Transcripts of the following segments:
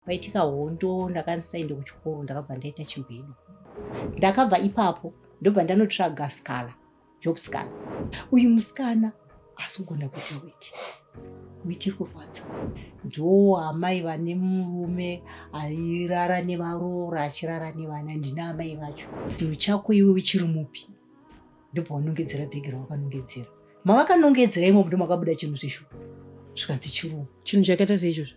Paitika hondo ndakanzi saende kuchikoro ndakabva ndaita chigwedo. Ndakabva ipapo ndobva ndanotsvaga skala, job skala. Uyu musikana asi kugona kuita weti weti kurwadza ndoo amai vane murume airara nevaroora achirara nevana ndina amai vacho chinhu chako iwe uchiri mupi ndobva wanongedzera bhegi rawakanongedzera mavakanongedzera imomo ndomakabuda chinhu zvishu zvikanzi chiruu chinhu chakaita seizvozvo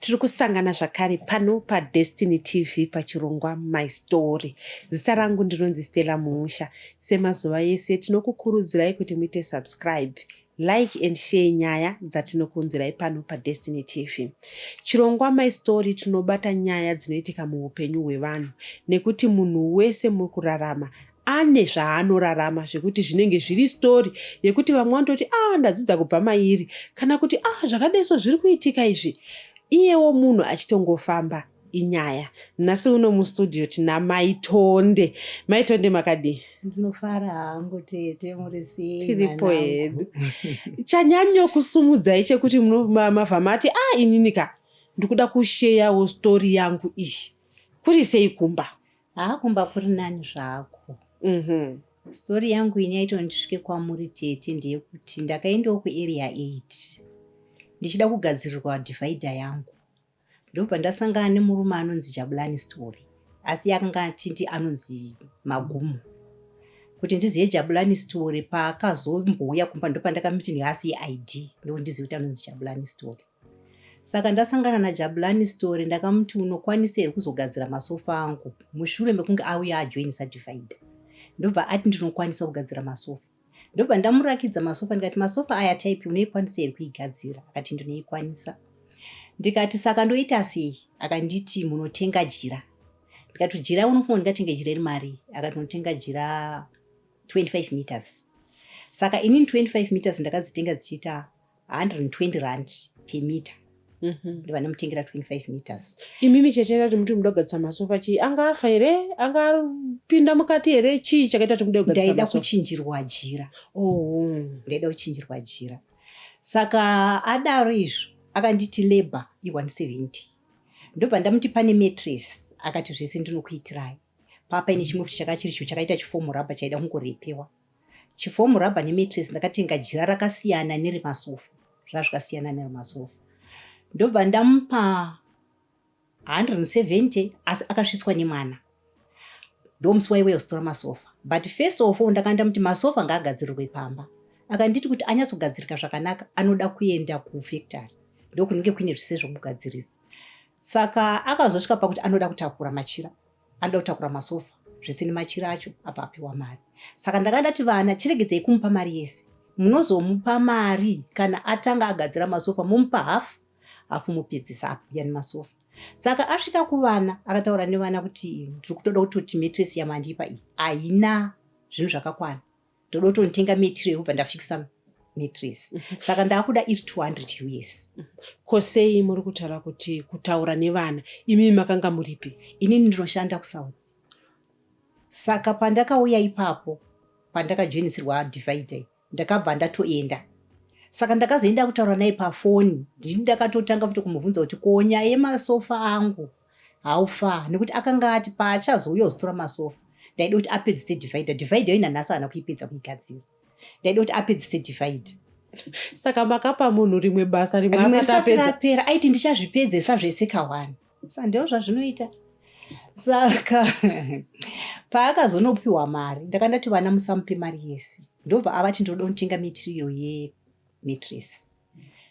Tiri kusangana zvakare pano paDestiny TV pachirongwa My Story. Zita rangu ndinonzi Stella Mumusha. Semazuva ese tinokukurudzirai kuti muite subscribe, like and share nyaya dzatinokuunzirai pano paDestiny TV. Chirongwa My Story tinobata nyaya dzinoitika muupenyu hwevanhu nekuti munhu wese muri kurarama ane zvaanorarama zvekuti zvinenge zviri story yekuti vamwe vanototi a ah, ndadzidza kubva mairi kana kuti a ah, zvakadeso zviri kuitika izvi iyewo munhu achitongofamba inyaya nhasi uno mustudio tina maitonde maitonde makadii ndinofara hangu tete muri sei tiripo hedu chanyanyo kusumudzai chekuti mava mati a ah, ininika ndikuda kusheyawo story yangu iyi kuri sei kumba haa kumba kuri nani zvako mm -hmm. stori yangu ini yaito ndisvike kwamuri tete ndeyekuti ndakaendawo kuarea 8 ndichida kugadzirirwa divhaidha yangu ndobva ndasangana nemurume anonzi jabulani story asi akanga atiti anonzi magumo kuti ndizive jabulani story paakazombohuya kumba ndopandakamiti ndiasiye id ndokuti ndizive kuti anonzi jabulani story Saka ndasangana naJabulani story ndakamuti unokwanisa here kuzogadzira masofa angu mushure mekunge auya ajoin certified. Ndobva ati ndinokwanisa kugadzira masofa. Ndobva ndamurakidza masofa ndikati masofa aya type unoikwanisa here kuigadzira akati ndinoikwanisa. Ndikati saka ndoita sei akanditi munotenga jira. Ndikati jira unofunga ndingatenge jira remari akati unotenga jira 25 meters. Saka inini 25 meters ndakazitenga dzichiita 120 rand per meter mhm. ndi vanomutengera 25 meters imi micheche tati muti muda kugadzisa masofa chii anga afa here anga apinda mukati here chii chakaita kuti muda kugadzisa ndaida kuchinjirwa jira oh. ndaida kuchinjirwa jira saka adaro izvo akanditi labor i170 ndobva ndamuti pane matress akati zvese ndinokuitirai papa ine chimwe futi chakachiricho chakaita chifomurabha chaida kungorepewa Chifomu rubber nemetres ndakatenga jira rakasiyana neremasofa zvazvikasiyana neremasofa ndobva ndamupa 170 asi akasvitswa nemwana ndomusi waiwe yozotora masofa but first of all ndakanda muti masofa ngaagadzirirwe pamba akanditi kuti anyatsogadzirika zvakanaka anoda kuenda kufactory ndokunenge kuine zvise zvokugadzirisa saka akazosvika pakuti anoda kutakura machira anoda kutakura masofa zvese nemachira acho abva apiwa mari saka ndakanga ndati vana chiregedzai kumupa mari yese munozomupa mari kana atanga agadzira masofa momupa hafu hafu mopedzisa apo yani masofa saka asvika kuvana akataura nevana kuti ndiri kutoda kuti kuti metresi yamandipa iyi haina zvinhu zvakakwana ndoda kutonotenga metri yekubva ndafikisa metris mhm. saka ndaakuda iri 200 us mhm. ko sei muri kutaura kuti kutaura nevana imii makanga muripi inini ndinoshanda kusouth saka pandakauya ipapo pandakajoinisirwa divide ndakabva ndatoenda saka ndakazoenda kutaura naye pafoni ndini ndakatotanga futi kumubvunza kuti ko nyaya yemasofa angu how far nekuti akanga ati paachazouya uzotora masofa ndaida kuti apedzise divide divide yo inanhasi ana kuipedza kuigadzira ndaida kuti apedzise divide saka makapa munhu rimwe basa rimwe asati apedza apera aiti ndichazvipedzesa zvese kawani sa ndeo zvazvinoita saka paakazonopiwa mari ndaka ndati vana musamupe mari yese ndobva avati ndinoda kutenga material yemitress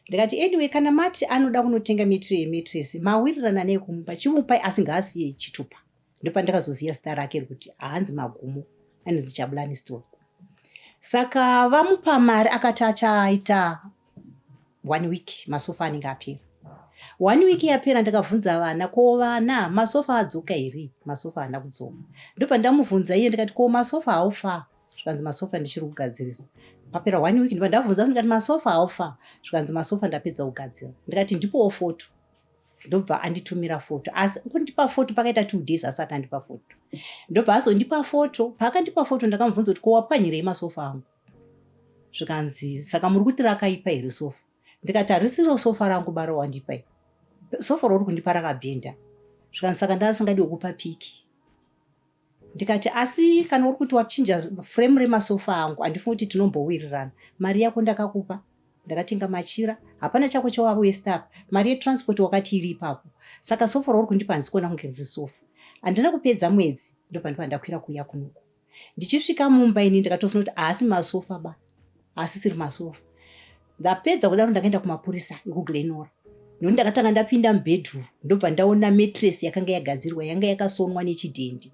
ndikati anyway kana mati anoda kunotenga mitiri yemitiresi mawirirana nei kumupa chimupai asi ngaasiye chitupa ndopandakazoziva zita rake rekuti haanzi magumo anonzi chabulani store saka vamupa mari akati achaita one week masofa anenge apera one week yapera ndakabvunza vana ko vana masofa adzoka here masofa haana kudzoka ndobva ndamubvunza iye ndikati ko masofa haufa zvikanzi masofa ndichiri kugadzirisa papera one week ndiba ndabvunza ndikati masofa haufa zvikanzi masofa ndapedza kugadzira ndikati ndipowo foto ndobva anditumira foto asi kundipa foto pakaita two days asati andipa foto ndobva azondipa foto paakandipa foto ndakamubvunza kuti kowapwanyirei masofa angu zvikanzi saka muri kuti rakaipa here sofa ndikati harisiro sofa rangu bara wandipa sofa rauri kundipa rakabhenda zvikanzi saka ndaasingadi wekupa piki ndikati asi kana uri kuti wachinja frame remasofa angu andifungi kuti tinombowirirana mari yako ndakakupa ndakatenga machira hapana chako chawawesta apa mari yetransport wakati iri ipapo saka sofa rauri kundipa handisikuona kunge riri sofa handina kupedza mwedzi ndopandipa ndakwira kuuya kunoku ndichisvika mumba ini ndakatoona kuti haasi masofa ba asisiri masoro ndapedza kudaro ndakaenda kumapurisa ekuglenora nekuti ndakatanga ndapinda mubedroom ndobva ndaona matress yakanga yagadzirwa yanga yakasonwa nechidhendi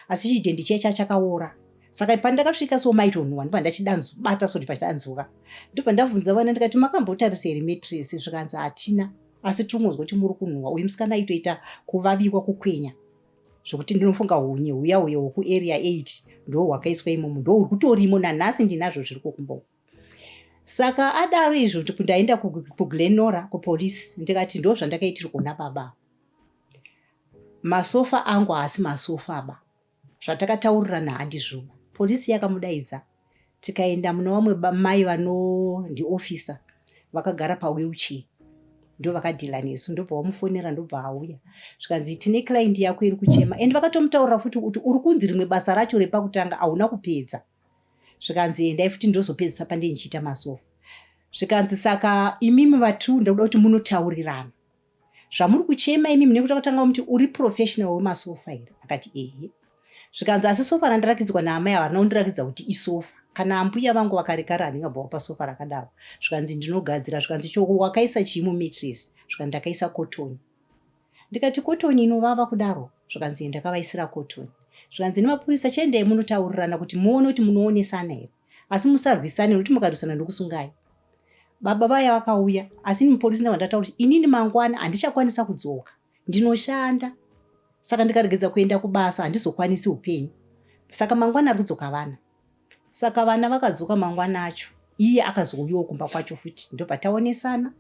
asi chidhendi chiya chaa chakaora saka pandakasvika so maitonhuwa ndobva ndachidanzubata so ndibva chidanzuka ndobva ndabvunza vana ndikati makambotarisa here matress zvikanzi hatina asi tinongonzwa kuti muri kunhuwa uyu musikana aitoita kuvaviwa kukwenya zvokuti ndinofunga hunye huya huya hwokuarea 8 ndo hwakaiswa imomo ndo huri kutorimo nanhasi ndinazvo zviri kokumbomo saka adaro izvo ndaenda kuglenora kupolice ndikati ndo zvandakaitirwa na baba masofa angu haasi masofa ba zvatakataurirana handizvoba polisi yakamudaidza tikaenda muna vamwe mai vanondiofisa vakagara pawheelchair ndo vakadhila nesu ndobva wamufonera ndobva auya zvikanzi tine client yako iri kuchema and vakatomutaurira futi kuti uri kunzi rimwe basa racho repakutanga hauna kupedza zvikanzi endai futi ndozopedzisa pandindichiita masofa zvikanzi saka imimi vatu ndakuda kuti munotaurirana zvamuri kuchema imi mune kuta kutanga muti uri professional wemasofa here akati ehe zvikanzi asi sofa randirakidzwa naamai ava rina kundirakidza kuti isofa kana ambuya vangu vakarekara handingabvawo pasofa rakadaro zvikanzi ndinogadzira zvikanzi choko wakaisa chii mumitress zvikanzi ndakaisa kotoni ndikati kotoni inovava kudaro zvikanzi ndakavaisira kotoni zvikanzi nemapurisa chiendei munotaurirana kuti muone kuti munoonesana here asi musarwisane nokuti mukarwisana ndokusungai baba vaya vakauya asi ini mupolisi ndava ndataura kuti inini mangwana handichakwanisa kudzoka ndinoshanda saka ndikaregedza kuenda kubasa handizokwanisi upenyu saka mangwana ari kudzoka vana saka vana vakadzoka mangwana acho iye akazouyawo kumba kwacho futi ndobva taonesana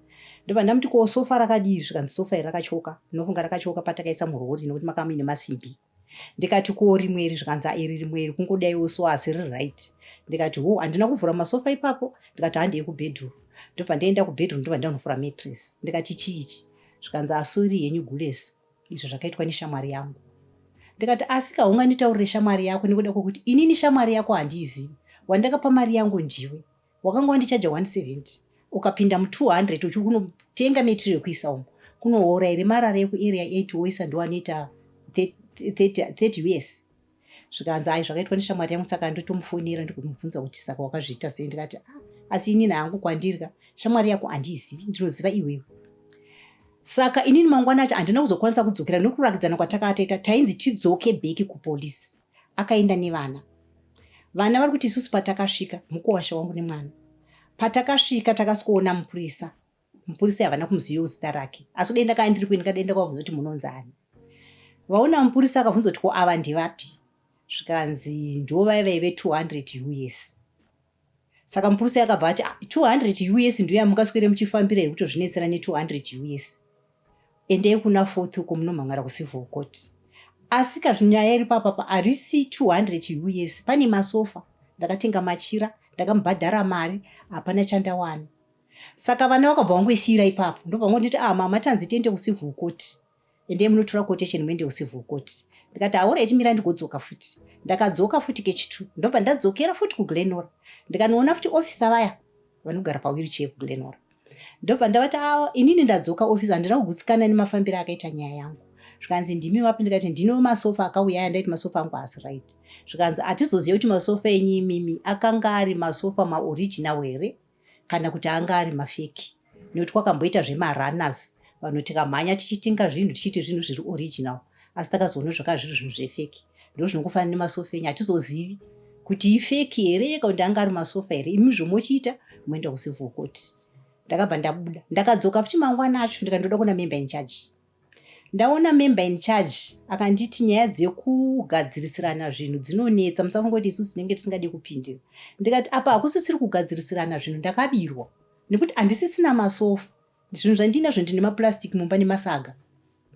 ndobva ndamuti ko sofa rakadii zvikanzi sofa iri rakatyoka ndinofunga rakatyoka patakaisa murori nokuti makamuine masimbi ndikati kuwo rimwe iri zvikanzi airi rimwe iri kungodaiwo so asi riri right ndikati ho handina kuvhura masofa ipapo ndikati handei kubedroom ndobva ndaenda kubedroom ndobva ndanovhura matress ndikati chii ichi zvikanzi asuri henyu gulesi izvo zvakaitwa neshamwari yangu ndikati asi kaunga nditaurire shamwari yako nekuda kwekuti inini shamwari yako handiizivi wandakapa mari yangu ndiwe wakanga wandichaja 170 ukapinda mu 200 uchiri kunotenga material kuisa umo kunoora here marara yekuarea 8 woisa ndiwanoita 30 us zvikanzi ai zvakaitwa neshamwari yangu saka ndotomufonera ndikumubvunza kuti saka wakazviita sei ndikati ah, asi inini hangu kwandirika shamwari yako handiizivi ndinoziva iwewe saka inini mangwana acho handina kuzokwanisa kudzokera nokurakidzana kwatakataita tainzi tidzoke bheki kupolisi akaenda nevana vana vari kuti isusu patakasvika mukuwasha wangu nemwana patakasvika takasikoona mupurisa mupurisa havana kumuziva uzita rake asi kudenda kaa ndiri kuenda kadenda kwavhunza kuti munonzi ani vaona mupurisa akavhunza kuti ko ava ndivapi zvikanzi ndovai vaive 200 us saka mupurusa yakabva ati 200 ah, us ndiyo yamungaswere muchifambira yekutozvinetsera ne200 us endei kuna fourth uko munomhan'ara kucivil court asi kazvinyaya iri papapa harisi 200 us pane masofa ndakatenga machira ndakamubhadhara mari hapana chandawana saka vana vakabva vangoisiyira ipapo ndobva vangonditi ah mama tanzi tiende kucivil court ende munotora quotation muende kucivil court ndikati aora itimira ndigodzoka futi ndakadzoka futi kechitu ndobva ndadzokera futi kuglenora ndikanoona futi ofisa vaya vanogara pawirichee kuglenora ndobva ndavati awa inini ndadzoka ofisa handina kugutsikana nemafambiro akaita nyaya yangu zvikanzi ndimi vapi ndikati ndino masofa akauya aya ndaiti masofa angu haasi right zvikanzi hatizoziva kuti masofa enyu imimi akanga ari masofa maoriginal here kana kuti anga ari mafeki nekuti kwakamboita zvemarunners vanhu tikamhanya tichitenga zvinhu tichiti zvinhu zviri original asi takazoona zvakava zviri zvinhu zvefeki ndo zvinokufanira nemasofa enyu hatizozivi kuti ifeki here yeka kuti anga ari masofa here imi zvomochiita moenda kusivhokoti ndakabva ndabuda ndakadzoka futi mangwana acho ndikandoda kuna memba inchaji ndaona member in charge akanditi nyaya dzekugadzirisirana zvinhu dzinonetsa musafungoti isu tinenge tisingadi kupindira ndikati apa hakusisiri kugadzirisirana zvinhu ndakabirwa nekuti handisisina masofa zvinhu zvandiinazvo ndine maplastic mumba nemasaga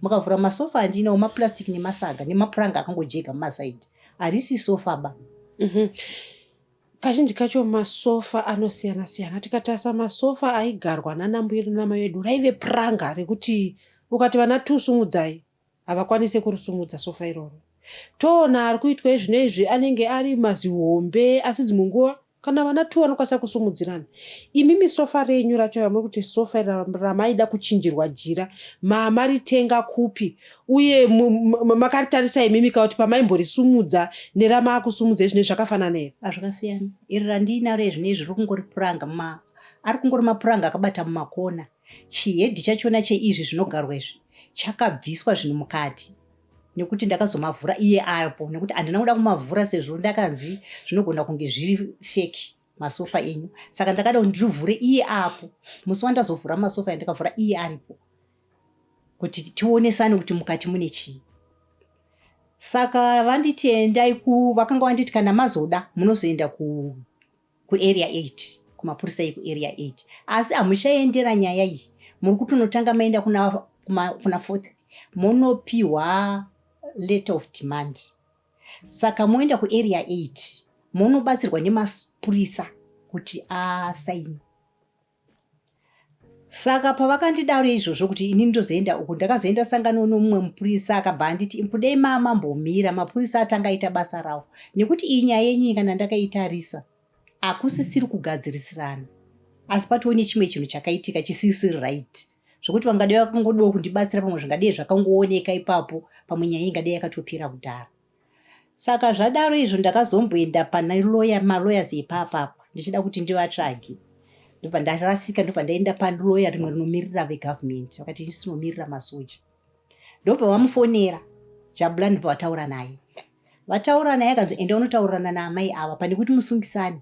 mukavhura masofa andiinawo maplastic nemasaga nemapuranga akangojega mumasaidi harisi sofa ba mm -hmm. Kazhinji kacho masofa anosiyana siyana. Tikatarisa masofa aigarwa nana mbuya edu namai vedu raive puranga rekuti ukati vana two sumudzai havakwanise kurisumudza sofa iroro. Toona ari kuitwa izvino izvi anenge ari mazihombe asi dzimwe nguva kana vana two vanokwanisa kusumudzirana. Imimi sofa renyu racho ramuri kuti sofa iri ra- ramaida kuchinjirwa jira mamaritenga kupi uye makaritarisa imimi ka kuti pamaimborisumudza neramaakusumudza izvine zvakafanana here hazvakasiyana iri randiinaro izvine izvi riri kungori puranga ma ari kungori mapuranga akabata mumakona chihedhi chachona cheizvi zvinogarwa izvi chakabviswa zvinhu mukati nekuti ndakazomavhura iye apo nekuti handina kuda kumavhura sezvo ndakanzi zvinogona kunge zviri feki masofa enyu saka ndakada kuti ndirivhure iye apo musi wandazovhura masofa yandakavhura iye aripo kuti tionesane kuti mukati mune chii saka vanditi endai ku vakanga vanditi kana mazoda munozoenda ku kuarea 8 kumapurisa ekuarea 8 asi hamuchaendera nyaya iyi muri kutonotanga maenda kuna, kuma, kuna fourth monopiwa letter of demand saka moenda kuarea 8 monobatsirwa nemapurisa kuti asaini saka pavakandidaro izvozvo kuti ini ndozoenda uku ndakazoenda sangano nomumwe mupurisa akabva anditi impudei mama mbomira mapurisa atanga aita basa rawo nekuti iyi nyaya yenyu kana ndakaitarisa akusisiri kugadzirisirana asi patoo nechimwe chinhu chakaitika chisisiri right zvekuti vangadai vakangodiwa kundibatsira pamwe zvingadei zvakangooneka ipapo pamwe nyaya ingadei yakatopira kudhara Saka zvadaro izvo ndakazomboenda pana lawyer ma lawyers ipapa apa ndichida kuti ndivatsvage. Ndobva ndarasika ndobva ndaenda pa lawyer rimwe rinomirira ve government vakati isu tinomirira masoja. Ndobva vamufonera Jabula ndobva vataura naye. Vataura naye akanzi enda unotaurirana na amai ava pane kuti musungisane.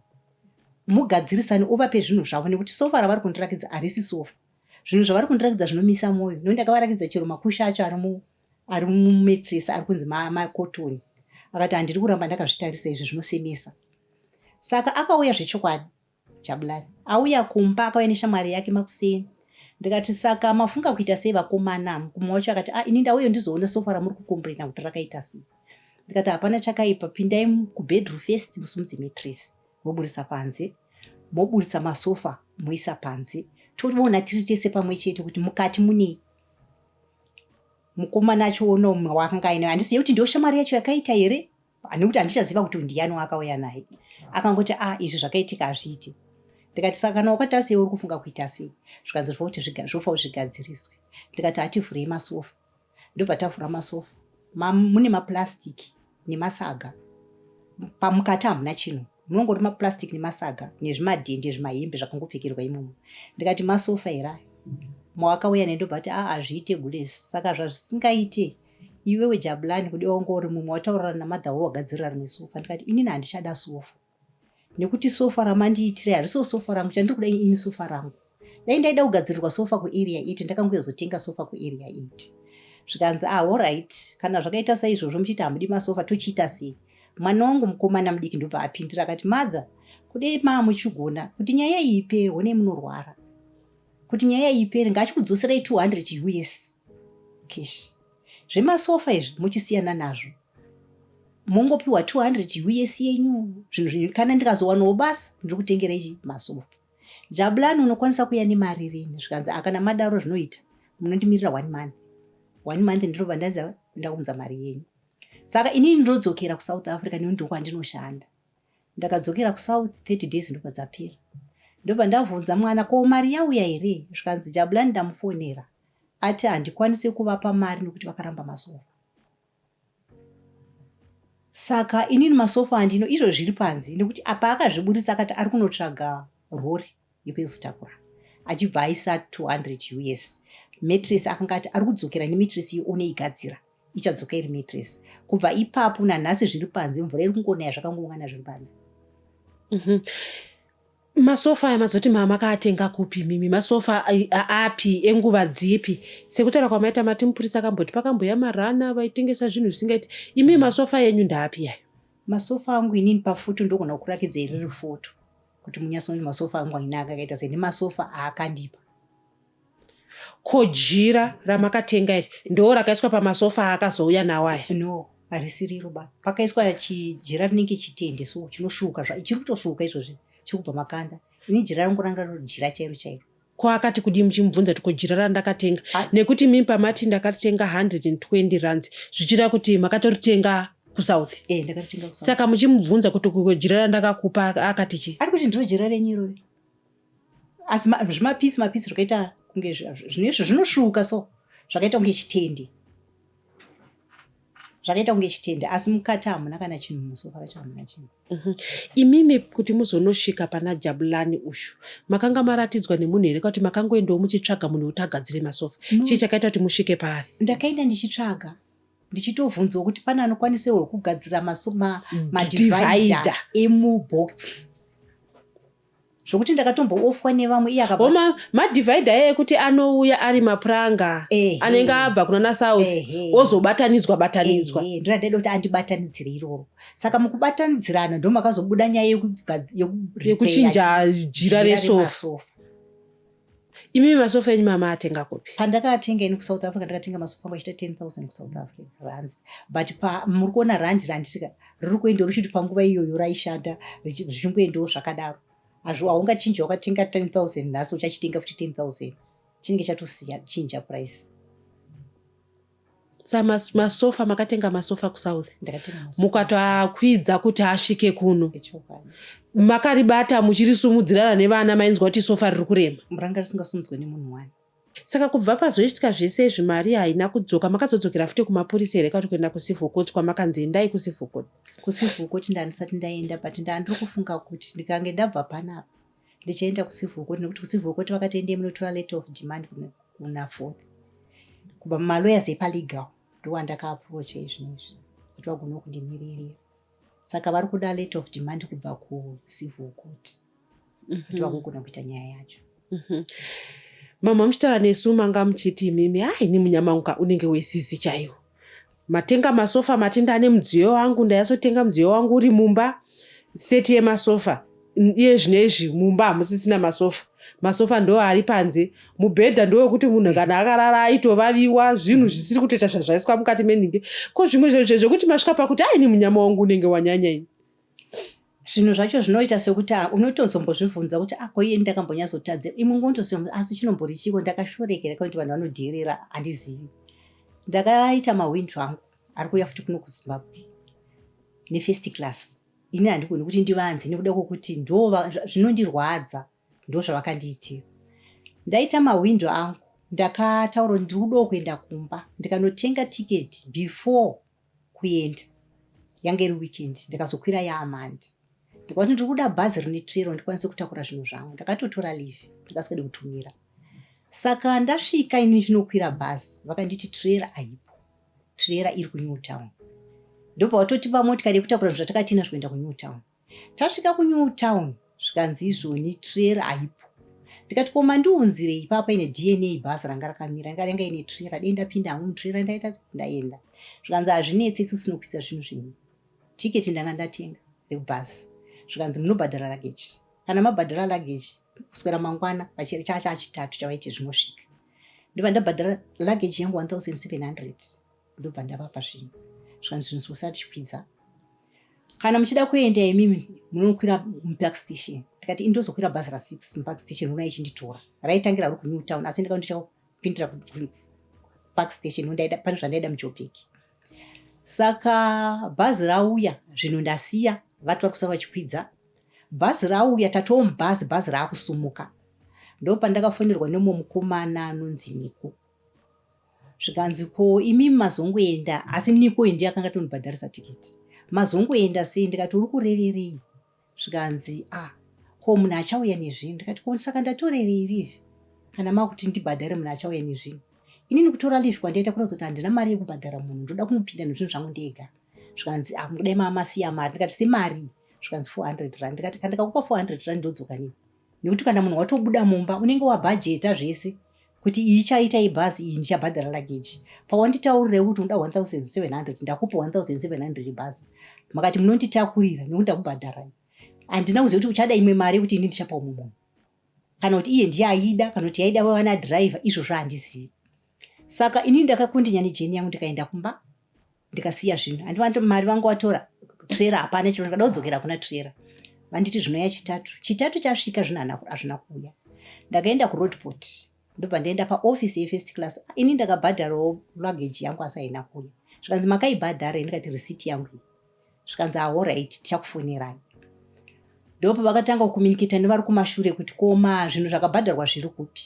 Mugadzirisane uvape zvinhu zvavo nekuti sofa ravari kundirakidza harisi sofa. Zvinhu zvavari kundirakidza zvinomisa mwoyo nekuti ndakavarakidza chero makusha acho ari mu ari mumetresi ari kunzi makotoni akati handiri kuramba ndakazvitarisa izvi zvinosemesa saka akauya zvechokwadi jabulani auya kumba akauya neshamwari yake makuseni ndikati saka mafunga kuita sei vakomana mukuma wacho akati ah, ini ndauyo ndizoona sofa ramuri kukombrena kuti rakaita sei ndikati hapana chakaipa pindai kubedroom first musumudze metresi moburitsa panze moburitsa masofa moisa panze toona tiri tese pamwe chete kuti mukati munei mukomana achiona umwe waakanga ainayo handisiye kuti ndiyo shamwari yacho yakaita here ane kuti handichaziva kuti ndiyani waakauya naye akangoti a ah, izvi zvakaitika hazviite ndikati saka kana wakati asei uri kufunga kuita sei zvikanzi zvofa kuti zvofa kuti zvigadziriswe ndikati hativhurei masofa ndobva tavhura masofa mune maplastic nemasaga pamukati hamuna chinhu munongori maplastic nemasaga nezvimadhende zvimahembe zvakangopfekerwa imomo ndikati masofa here ayo mawakauya nendobva kuti aa ah, hazviite gules saka zvazvisingaite iwewe jabulani kudi wanga uri mumwe wataurirana namadhawo wagadzirira rimwe sofa ndikati inini handichada sofa nekuti sofa ramandiitira hariso sofa rangu chandiri kuda ini sofa rangu dai ndaida kugadzirirwa sofa kuarea it ndakangoyozotenga sofa kuarea it zvikanzi ah allright kana zvakaita saizvozvo muchiita hamudi masofa tochiita sei mwana wangu mukomana mudiki ndobva apindira akati mother kudei maa muchigona kuti nyaya iyi ipere honei munorwara kuti nyaya iyi ipere ngaachikudzoserai 200 us cash zvemasofa izvi muchisiyana nazvo mongopiwa 200 uye siyenyu zvinhu zvinyu kana ndikazowanawo basa ndiri kutengera ichi masofa jabulani unokwanisa kuya nemari rini zvikanzi akana ah, madaro zvinoita munondimirira one month one month ndirova ndanzi ndakunza mari yenyu saka inini ndodzokera kusouth africa neu ndokwa ndinoshanda ndakadzokera kusouth 30 days ndobva dzapera ndobva ndavhunza mwana ko mari yauya here zvikanzi jabulani ndamufonera ati handikwanise kuvapa mari nokuti vakaramba masofa saka inini masofa andino izvo zviri panzi nekuti apa akazviburitsa akati ari kunotsvaga rori yekuenzo takura achibva aisa 200 us matress akanga ati ari kudzokera nematress iyo one igadzira ichadzoka iri matress kubva ipapo nanhasi zviri panze mvura iri kungonaya zvakangoungana zviri panze mm -hmm masofa aya mazoti mama akaatenga kupi mimi masofa api enguva dzipi sekutaura kwamaita mati mupurisa akamboti pakamboya marana vaitengesa zvinhu zvisingaiti imi masofa yenyu ndaapi yayo masofa angu inini pafoto ndogona kukurakidza iriri foto kuti munyasoni masofa angu ainaka akaita sei nemasofa aakandipa ko jira ramakatenga iri ndoo rakaiswa pamasofa aakazouya nawo aya no harisiriro ba pakaiswa chijira rinenge chitende so chinosvuuka zva chiri kutosvuuka izvozvi chiri kubva makanda ini jira rangu ranga riri jira chairo chairo ko akati kudii muchimubvunza kuti ko jira randakatenga nekuti mimi pamati ndakatenga 120 runs zvichira kuti makatoritenga kusouth eh, saka muchimubvunza kuti ko jira randakakupa akati chi ari kuti ndiro jira renyu irori asi zvimapisi mapisi zvakaita kunge zvinoizvo zvinosvuuka so zvakaita kunge chitendi zvakaita kunge chitende asi mukati hamuna kana chinhu musofa racho hamuna chinhu mhm. imimi kuti muzonosvika pana jabulani ushu makanga maratidzwa nemunhu here kakuti makangoendawo muchitsvaga munhu wekuti agadzire masofa chii chakaita kuti musvike paari ndakaenda ndichitsvaga ndichitovhunzawo kuti pane anokwanisawo kugadzira mm, madivider emubox zvokuti ndakatomboofwa nevamwe iye akabva Homa madivhaidha eye kuti anouya ari mapuranga Ehe. anenge abva kuna nasouth Ehe. ozobatanidzwa batanidzwa Eh, eh, ndona ndaida kuti andibatanidzire iroro saka mukubatanidzirana ndomakazobuda nyaya yekugaz- yeku- repair yekuchinja jira jira resofa remasofa. Imi masofa enyu mama atenga kupi? Pandakatenga ini kuSouth Africa ndakatenga masofa angu achita 10000 kuSouth Africa rands. But pa muri kuona rand rand rika riri kuenda ruchiti panguva iyoyo raishanda zvichingoendawo zvakadaro. Hazvo haungachinja wakatenga 10000 nhasi uchachitenga futi 10000. Chinenge chatosiya chinja price. sa mas, masofa makatenga masofa kusouth mukatoakwidza kuti asvike kuno makaribata muchirisumudzirana nevana mainzwa kuti sofa riri kurema muranga risingasumudzwe nemunhu wani saka kubva pazoitika zvese izvi mari haina kudzoka makazodzokera futi kumapurisa here kati kuenda kucivil court kwamakanzi endai kucivil court kucivil court ndandisati ndaenda but ndandiri kufunga kuti ndikange ndabva panapa ndichaenda kucivil court nekuti kucivil court vakatoendei munotora letter of demand kuna fourth kubva mumalawyers epalegal ndowandakaaprocha izvino izvi kuti vagona kundimiririra saka vari kuda letter of demand kubva kucivil court mhm. kuti vagogona kuita nyaya yacho mhm. mama muchitaura nesu manga muchiti imimi ha ini munyamanguka unenge wesisi chaiwo Matenga masofa matenda ane mudziyo wangu ndayasotenga mudziyo wangu uri mumba seti yemasofa iye zvine izvi mumba hamusisina masofa masofa ndo ari panze mubhedha ndowekuti munhu kana akarara aitovaviwa zvinhu zvisiri kutoita zvazvaiswa mukati meninge ko zvimwe zvekuti masvika pakuti aini munyama wangu unenge wanyanya ini zvinhu zvacho zvinoita sekuti ah, unotozombozvibvunza kuti ako ah, iye ndakambonyazotadze imwe ngondoziva kuti asi chinombori chiko ndakashorekera kuti vanhu vanodheerera handizivi ndakaita mahwindu angu ari kuuya futi kuno kuzimbabwe nefirst class ini handigoni kuti ndivanze nekuda kwokuti ndo zvinondirwadza ndo zvavakandiitira ndaita mahwindu angu ndakataura kuti ndiri kudawo kuenda kumba ndikanotenga tiketi before kuenda yanga iri weekend ndikazokwira yaamand ndikati ndiri kuda bhazi rine trero ndikwanise kutakura zvinhu zvangu ndakatotora live ndikasingadi kutumira saka ndasvika ini ndinokwira bhazi vakanditi trera aipo trera iri kunew town ndobva vatotipa motikari yekutakura zvinhu zvatakatinazvo kuenda kunew town Tasvika kuNew Town zvikanzi izvoni trera haipo. Ndikati ko mandiunzire ipapa ine DNA bhazi ranga rakamira ndikarenga ine trera dai ndapinda hangu mutrera ndaita ndaenda. Zvikanzi hazvinetse isu sinokuisa zvinhu zvenyu. Tiketi ndanga ndatenga rekubhazi. Zvikanzi munobhadhara luggage. Kana mabhadhara luggage kuswera mangwana chacha chitatu chavaiti zvinosvika. Ndiva ndabhadhara luggage yangu 1700. ndobva ndavapa zvinhu zvikanzi zvinhu zvisatyidza kana muchida kuenda imimi munokwira mupark station tikati indozokwira bhazi rasix mupark station ona ichinditora raitangira ri kunew town asi ndika ndichapindira park station ondaida pane zvandaida mujobheki saka bhazi rauya zvinhu ndasiya vati vari kusara vachikwidza bhazi rauya tatowo mubhazi bhazi raakusumuka ndopandakafonerwa nemwe mukomana anonzi niko zvikanzi ko imi mazongoenda asi niko indi akanga tonibhadharisa tiketi mazongoenda sei ndikati uri kureverei zvikanzi a ah, ko munhu achauya nezvinhu ndikati ko saka ndatorerei live kana makuti ndibhadhare munhu achauya nezvinhu inini kutora live kwandaita kuratidza kuti handina mari yekubhadhara munhu ndoda kumupinda nezvinhu zvangu ndega zvikanzi ah, mudai mamasiya mari ndikati semari zvikanzi 400 rand ndikati kandikakupa 400 rand ndodzoka nei nekuti kana munhu watobuda mumba unenge wabhajeta zvese kuti iyi chaita ibhazi iyi ndichabhadhara lageji pawanditaurirewo kuti unoda 1700 ndakupa 1700 ibhazi makati munonditakurira nekuti ndakubhadhara handina kuziva kuti uchada imwe mari yekuti ini ndichapa umwe munhu kana kuti iye ndiye aida kana kuti yaida vana driver izvozvo handizivi saka inini ndakakondinya nejeni yangu ndikaenda kumba ndikasiya zvinhu andivati mari vangu watora trera hapana chiro ndikada kudzokera kuna trera vanditi zvinoya chitatu chitatu chasvika zvino hazvina kuuya ndakaenda kuroadport ndobva ndaenda paoffice yefirst class ini ndakabhadharawo luggage yangu asi haina kuuya zvikanzi makaibhadhara i ndikati receipt yangu iyi zvikanzi ahorit ah, tichakufonerai ndopo vakatanga kucommunicata nevari kumashure kuti koma zvinhu zvakabhadharwa zviri kupi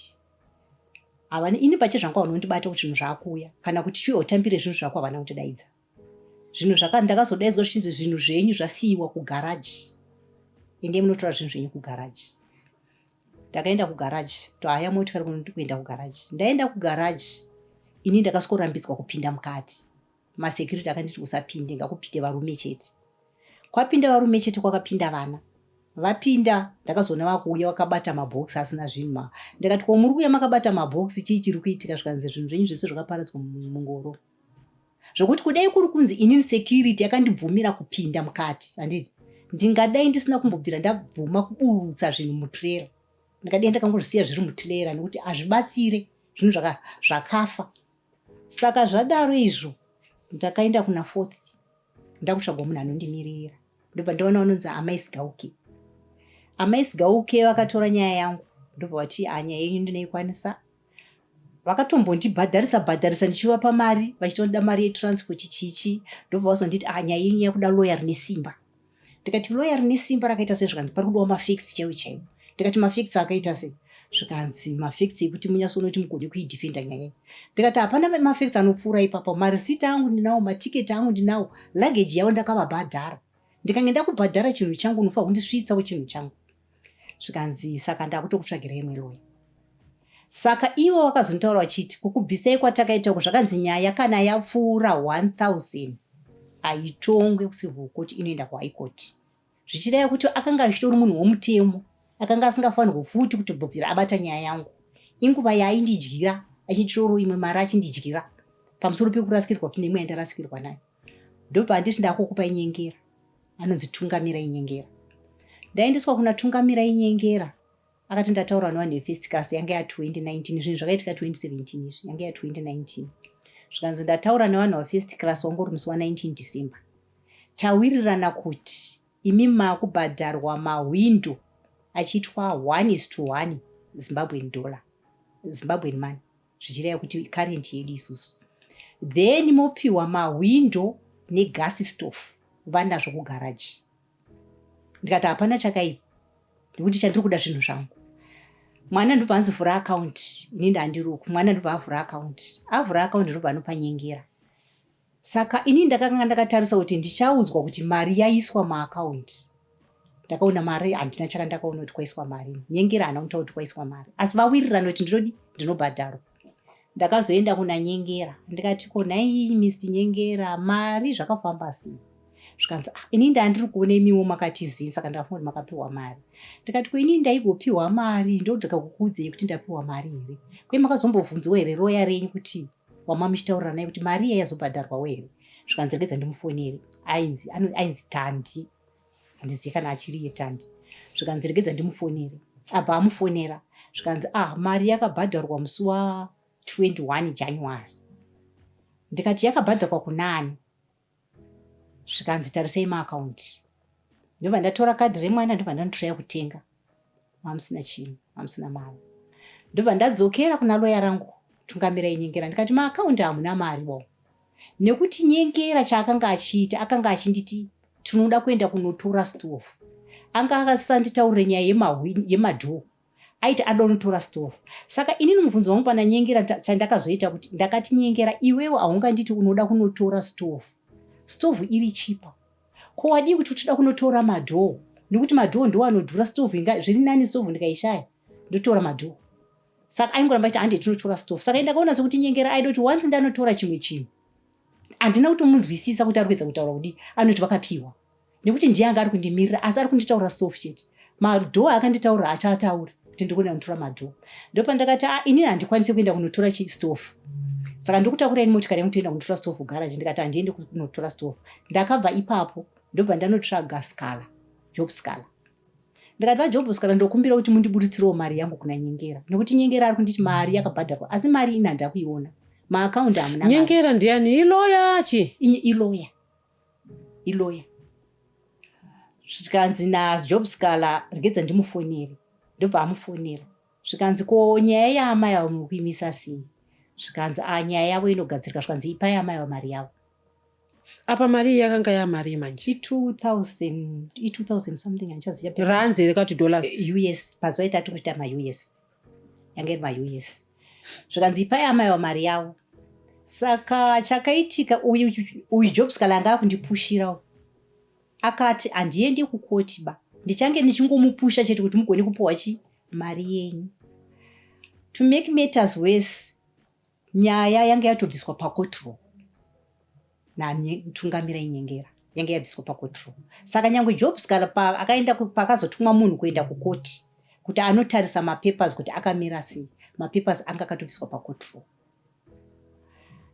havana ini pache zvangu havana kundibata kuti zvinhu zvaakuuya kana kuti chiuya utambire zvinhu zvako havana kundidaidza zvinhu zvaka ndakazodaidzwa zvichinzi zvinhu zvenyu zvasiyiwa kugaraji endei munotora zvinhu zvenyu kugaraji ndakaenda kugaraji tohaya motikari kuenda kugaraji ndaenda kugaraji ini ndakasikorambidzwa kupinda mukati masecurity akanditi usapinde ngakupinde varume chete kwapinda varume chete kwakapinda vana vapinda ndakazoona vakuuya vakabata mabhokisi asina zvinhu ma ndikati ko muri kuuya makabata mabhokisi chii chiri kuitika zvikanzi zvinhu zvenyu zvese zvakaparadzwa mungoro zvokuti kudai kuri kunzi inini security yakandibvumira kupinda mukati handiti ndingadai ndisina kumbobvira ndabvuma kuburutsa zvinhu mutrera ndingadai ndakangozvisiya zviri mutrera nekuti hazvibatsire zvinhu zvakafa saka zvadaro izvo ndakaenda kuna fourth ndakutsvagwa munhu anondimirira ndobva ndaona vanonzi amai sigauke amai sigauke vakatora nyaya yangu ndobva vati ah, nyaya yenyu ndinoikwanisa vakatombondibhadharisa bhadharisa ndichivapa mari vachitoda mari yetransport chichi ndobva vazonditi ah, nyaya yenyu yakuda loya rine simba ndikati loya rine simba rakaita sei zvikanzi pari kudiwa mafacts chaiwo chaiwo ndikati mafacts akaita sei zvikanzi mafacts ekuti munyasi unoti mugone kuidefenda nyaya iyi ndikati hapana mafacts anopfuura ipapo marisiti angu ndinawo matiketi angu ndinawo luggage yavo ndakavabhadhara ndikange ndakubhadhara chinhu changu unofa hundisvitsawo chinhu changu zvikanzi saka ndakutokutsvagira imwe loyi saka ivo vakazonitaura vachiti kukubvisai kwatakaita uku zvakanzi nyaya kana yapfuura 1000 haitongwe kucivil court inoenda kuhigh court zvichireva kuti akanga achitori munhu womutemo akanga asingafanirwo futi kutobvira abata nyaya yangu inguva yaaindidyira achitorwo imwe mari achindidyira pamusoro pekurasikirwa futi nemwe yandarasikirwa nayo ndobva anditi ndakukupa inyengera anonzi tungamira inyengera ndaendeswa kuna tungamira inyengera akati ndataura nevanhu vefesticas yange ya 2019 zvinhu zvakaitika 2017 izvi yange ya 2019 zvikanzi ndataura nevanhu vafesticlas wangori musi wa 19 december tawirirana kuti imi makubhadharwa mahwindo achiitwa one is to one zimbabwen dollar zimbabwen money zvichireva kuti current yedu isusu then mopiwa mahwindo negas stof vanazvo kugaraji ndikati hapana chakaipa nekuti chandiri kuda zvinhu zvangu mwana ndobva anzovhura akaunti ini ndandiruku mwana ndobva avhura akaunti avhura akaunti ndobva anopanyengera Saka ini ndakanga ndakatarisa kuti ndichaudzwa kuti mari yaiswa maakaunti ndakaona mari handina chara ndakaona kuti kwaiswa mari nyengera hana kutaura kuti kwaiswa mari asi vawirirana kuti ndinodi ndinobhadharwa ndakazoenda kuna nyengera ndikati ko nhai mist nyengera mari zvakafamba sei zvikanzi ah, ini ndandiri kuona imiwo makatizii saka ndakafunga kuti makapiwa mari ndikati ko ini ndaigopiwa mari ndodaga kukuudzei kuti ndapiwa mari here kwe makazombovhunziwa here roya renyu kuti wama muchitaurira naye kuti mari iya yazobhadharwawo here zvikanzi regedza ndimufoneri ainzi ainzi tandi handizivi kana achiri yetandi zvikanzi regedza ndimufoneri abva amufonera zvikanzi ah mari yakabhadharwa musi wa 21 january ndikati yakabhadharwa kunani zvikanzi tarisei maakaunti ndobva ndatora kadhi remwana ndobva ndanotoya kutenga mamusina chinhu mamusina mari ndobva ndadzokera kuna loya rangu tungamira inyengera ndikati maakaunti hamuna mari wo nekuti nyengera chaakanga achiita akanga achinditi tinoda kuenda kunotora stof anga akasanditaurire nyaya yemadhoo aiti adonotora stove saka inini mubvunzo wangu pandanyengera chandakazoita kuti ndakati nyengera iwewe haunganditi unoda kunotora stove stove iri chipa ko wadii kuti utoda kunotora madhoo nekuti madhoo ndiwo anodhura stove inga zviri nani stove ndikaishaya ndotora madhoo saka aingoramba chiti hande tinotora stove saka ndakaona sekuti nyengera aida kuti wanzi ndanotora chimwe chinhu handina kutomunzwisisa kuti ari kuedza kutaura kudii anoti vakapiwa nekuti ndiye anga ari kundimirira asi ari kunditaura sof chete madhoo akanditaurira achaataura kuti ndiri kuenda kunotora madhoo ndopandakati a ah, inini handikwanise kuenda kunotora chistofu saka ndokutaura ini motikari yangu toenda kunotora stofu garaji ndikati handiende kunotora stofu ndakabva ipapo ndobva ndanotsvaga scala job scala ndikati vajob scala ndokumbira kuti mundiburitsireo mari yangu kuna nyengera nekuti nyengera ari kunditi mari yakabhadharwa asi mari ini handakuiona maakaundi hamuna nyengera ndiani iloya chi iloya iloya zvikanzi najob scala regedza ndimufonere ndobva amufonera zvikanzi ko nyaya yaamai avo mukuimisa sei zvikanzi a ah, nyaya yavo inogadzirika zvikanzi ipai amai avo mari yavo apa mari iyi yakanga yamari manje i2000 something andichaziva ranzi here kati dollars eh, us pazuva itati kuita maus yanga iri maus zvikanzi ipai amaiwa mari yavo saka chakaitika uyu uyu jobs kala anga akundipushirawo akati handiendi kukoti ba ndichange ndichingomupusha chete kuti mugone kupiwa chi mari yenyu to make matters worse nyaya yange yatobviswa pacotrol natungamira inyengera yange yabviswa pacotrol saka nyange job scala paakaenda paakazotumwa munhu kuenda kukoti kuti anotarisa mapapers kuti akamira sei mapapers anga akatobviswa pacotrol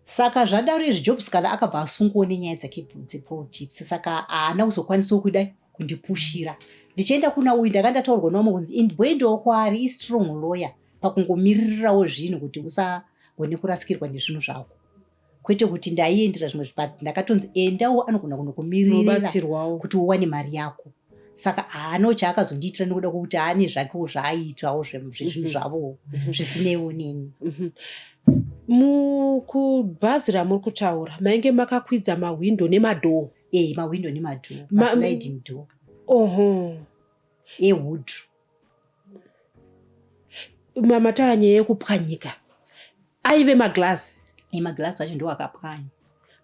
saka zvadaro izvi job scala akabva asunguwo nenyaya dzake dzepolitics saka haana kuzokwanisawo kudai kundipushira ndichienda kuna uyu ndakandataurwa nomwe kunzi bwendewo kwaari istrong lawyer pakungomiririrawo zvinhu kuti usagone kurasikirwa nezvinhu zvako kwete kuti ndaiendera zvimwe zvipat ndakatonzi endawo anogona kunokumiririrabatsirwawo kuti uwane mari yako saka haano chaakazondiitira nekuda kwokuti aane zvakewo zvaaiitwawo zvezvinhu mhm. zvavowo mhm. zvisineiwo neni mhm. mukubhazi ramuri kutaura mainge makakwidza mahwindo nemadhoo e eh, mahwindo nemadhoo masliding door oho ewood mamatara nyaya yekupwanyika aive maglazi maglazi acho ndo akapwanya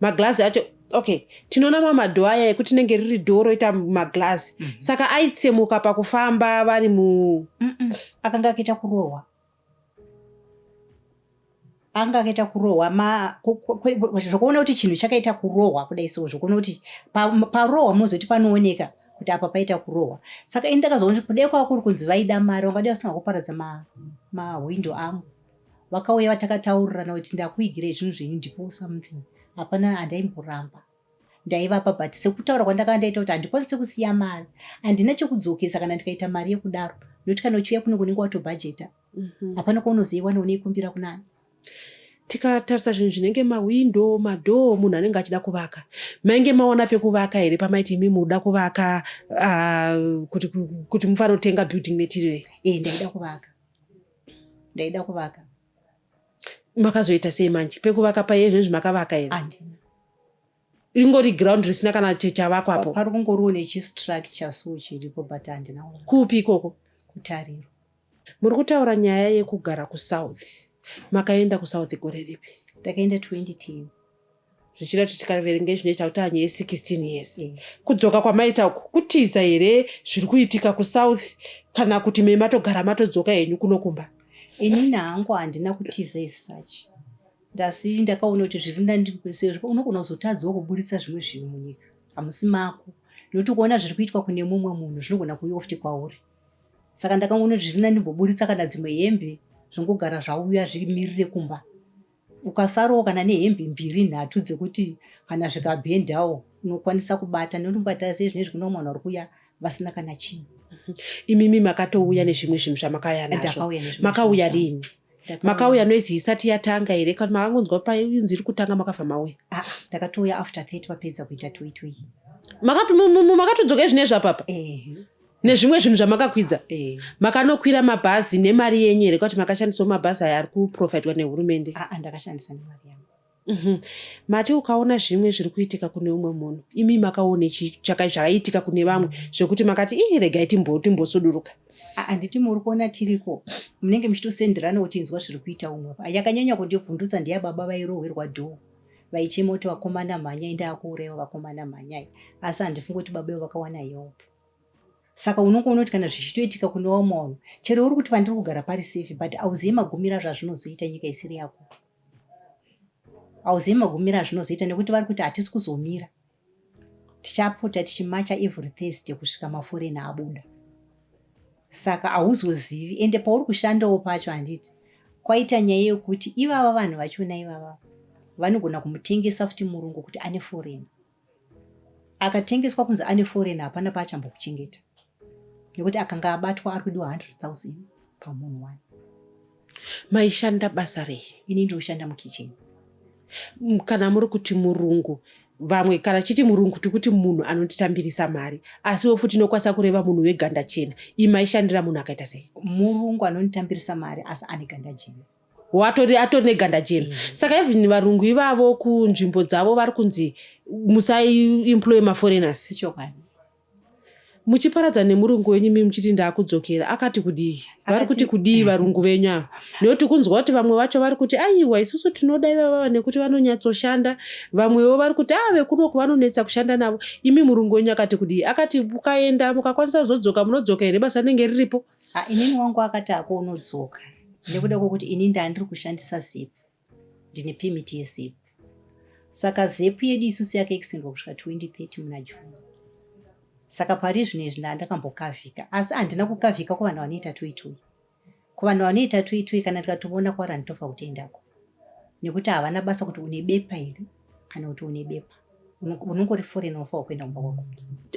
maglazi acho okay tinoona mamadho aya ekuti tinenge riri dho roita maglazi mm -hmm. saka aitsemuka pakufamba vari mu mm -mm. akanga akaita kurohwa anga akaita kurohwa zvokuona kuti chinhu chakaita kurohwa kudai so zvokuona kuti parohwa munozoti panooneka kuti apa paita kurohwa saka ini ndakazoona kuti kudai kwava kuri kunzi vaida mari vangadai vasina kuparadza mahwindo amo vakauya vatakataurirana kuti ndakuigirei zvinhu zvenyu ndipo something hapana handaimboramba ndaivapa but sekutaura kwandakava ndaita kuti handikwanise kusiya mari handina chekudzokesa kana ndikaita mari yekudaro nokuti kana uchiuya kuno kunenge watobhajeta mhm. hapana kwaunozoiwana uneikumbira kunani tikatarisa zvinhu zvinenge mawindo madhoo munhu anenge achida kuvaka mainge maona pekuvaka here pamaiti imi muda kuvaka ah, kuti mufanotenga building material e eh, ndaida kuvaka ndaida kuvaka makazoita sei manje pekuvaka paye zvinezvi makavaka here ringori ground risina kana chavakwa apo pari kungoriwo nechistructure so chiripo but handina kupi ikoko kutariro muri kutaura nyaya yekugara kusouth makaenda kusouth gore ripi takaenda 2010 zvichida kuti tikaverenga izvi ndoita kuti anye ye16 years mm. kudzoka kwamaita uku kutiza here zviri kuitika kusouth kana kuti me matogara matodzoka henyu kuno kumba ini nahangu handina kutiza isuch ndasi ndakaona kuti zviri ndandisezvo unogona kuzotadzawo kuburitsa zvimwe zvinhu munyika hamusi mako nokuti kuona zviri kuitwa kune mumwe munhu zvinogona kuuya futi kwauri saka ndakangoona kuti zviri ndandimboburitsa kana dzimwe hembe zvongogara zvauya zvimirire kumba ukasarowo kana nehembe mbiri nhatu dzekuti kana zvikabhendawo unokwanisa kubata nekuti mukataura sei zvinezvi kune umwana uri kuya vasina kana chinhu mhm. imimi makatouya nezvimwe zvinhu zvamakauya nazvo makauya rini makauya noise isati yatanga here kana makangonzwa painzi iri kutanga makabva mauya ah, takatouya after 30 vapedza kuita toitoi makatodzoka izvinezvapapa nezvimwe zvinhu zvamakakwidza eh. makanokwira mabhazi nemari yenyu here kuti makashandisawo mabhazi aya ari kuprovidwa nehurumende ah, ah, ndakashandisa nemari yangu mhm. mati ukaona zvimwe zviri kuitika kune umwe munhu imi makaone zvakaitika kune vamwe zvekuti makati ii regai timbosuduruka ah, handiti muri kuona tiriko munenge muchitosenderana kuti inzwa zviri kuita umwe yakanyanya kundivhundutsa ndeya baba vairohwerwa dhoo vaichema kuti vakomana mhanyai ndaakuuraiwa vakomana mhanyai asi handifungi kuti baba ivo vakawana yopo saka unongoona kuti kana zvichitoitika kune vamwe vanhu chero uri kuti pandiri kugara pari safe but auzive magumiro azvazvinozoita nyika isiri yako auzive magumiro azvinozoita nekuti vari kuti hatisi kuzomira tichapota tichimacha every thursday kusvika maforeni abuda saka hauzozivi ende pauri kushandawo pacho handiti kwaita nyaya yekuti ivava vanhu vachona ivava vanogona kumutengesa futi murungu kuti ane foreni akatengeswa kunzi ane foreign hapana paachambokuchengeta nekuti akanga abatwa ari kudiwa 100,000 pamunhu wani maishanda basa rei ini ndinoshanda mukicheni kana muri kuti murungu vamwe kana chiti murungu tikuti munhu anotitambirisa mari asiwo futi inokwanisa kureva munhu weganda chena imaishandira munhu akaita sei murungu anonitambirisa mari asi ane ganda jena watori atori neganda jena mm. saka even varungu ivavo kunzvimbo dzavo vari kunzi musaiemploye maforeigners ichokwadi muchiparadza nemurungu wenyu mi muchiti ndaakudzokera akati kudii vari kuti kudii varungu venyu ava nekuti kunzwa kuti vamwe vacho vari kuti aiwa isusu tinoda ivavava nekuti vanonyatsoshanda vamwewo vari kuti a ah, vekunoku vanonetsa kushanda navo imi murungu wenyu akati kudii akati mukaenda mukakwanisa kuzodzoka munodzoka here basa rinenge riripo Ha, inini wangu akati ako unodzoka nekuda kwekuti ini ndandiri kushandisa zip ndine permit yezip saka zip yedu isusu yakaextendwa kusvika 2030 muna june saka pari zvino izvi ndandakambokavhika asi handina kukavhika kuvanhu vanoita toitoi kuvanhu vanoita toitoi kana tikatoona kwarani tofa kutendako nekuti havana basa kuti une bepa here kana kuti une bepa unongori foreign wafa wakuenda kumba kwako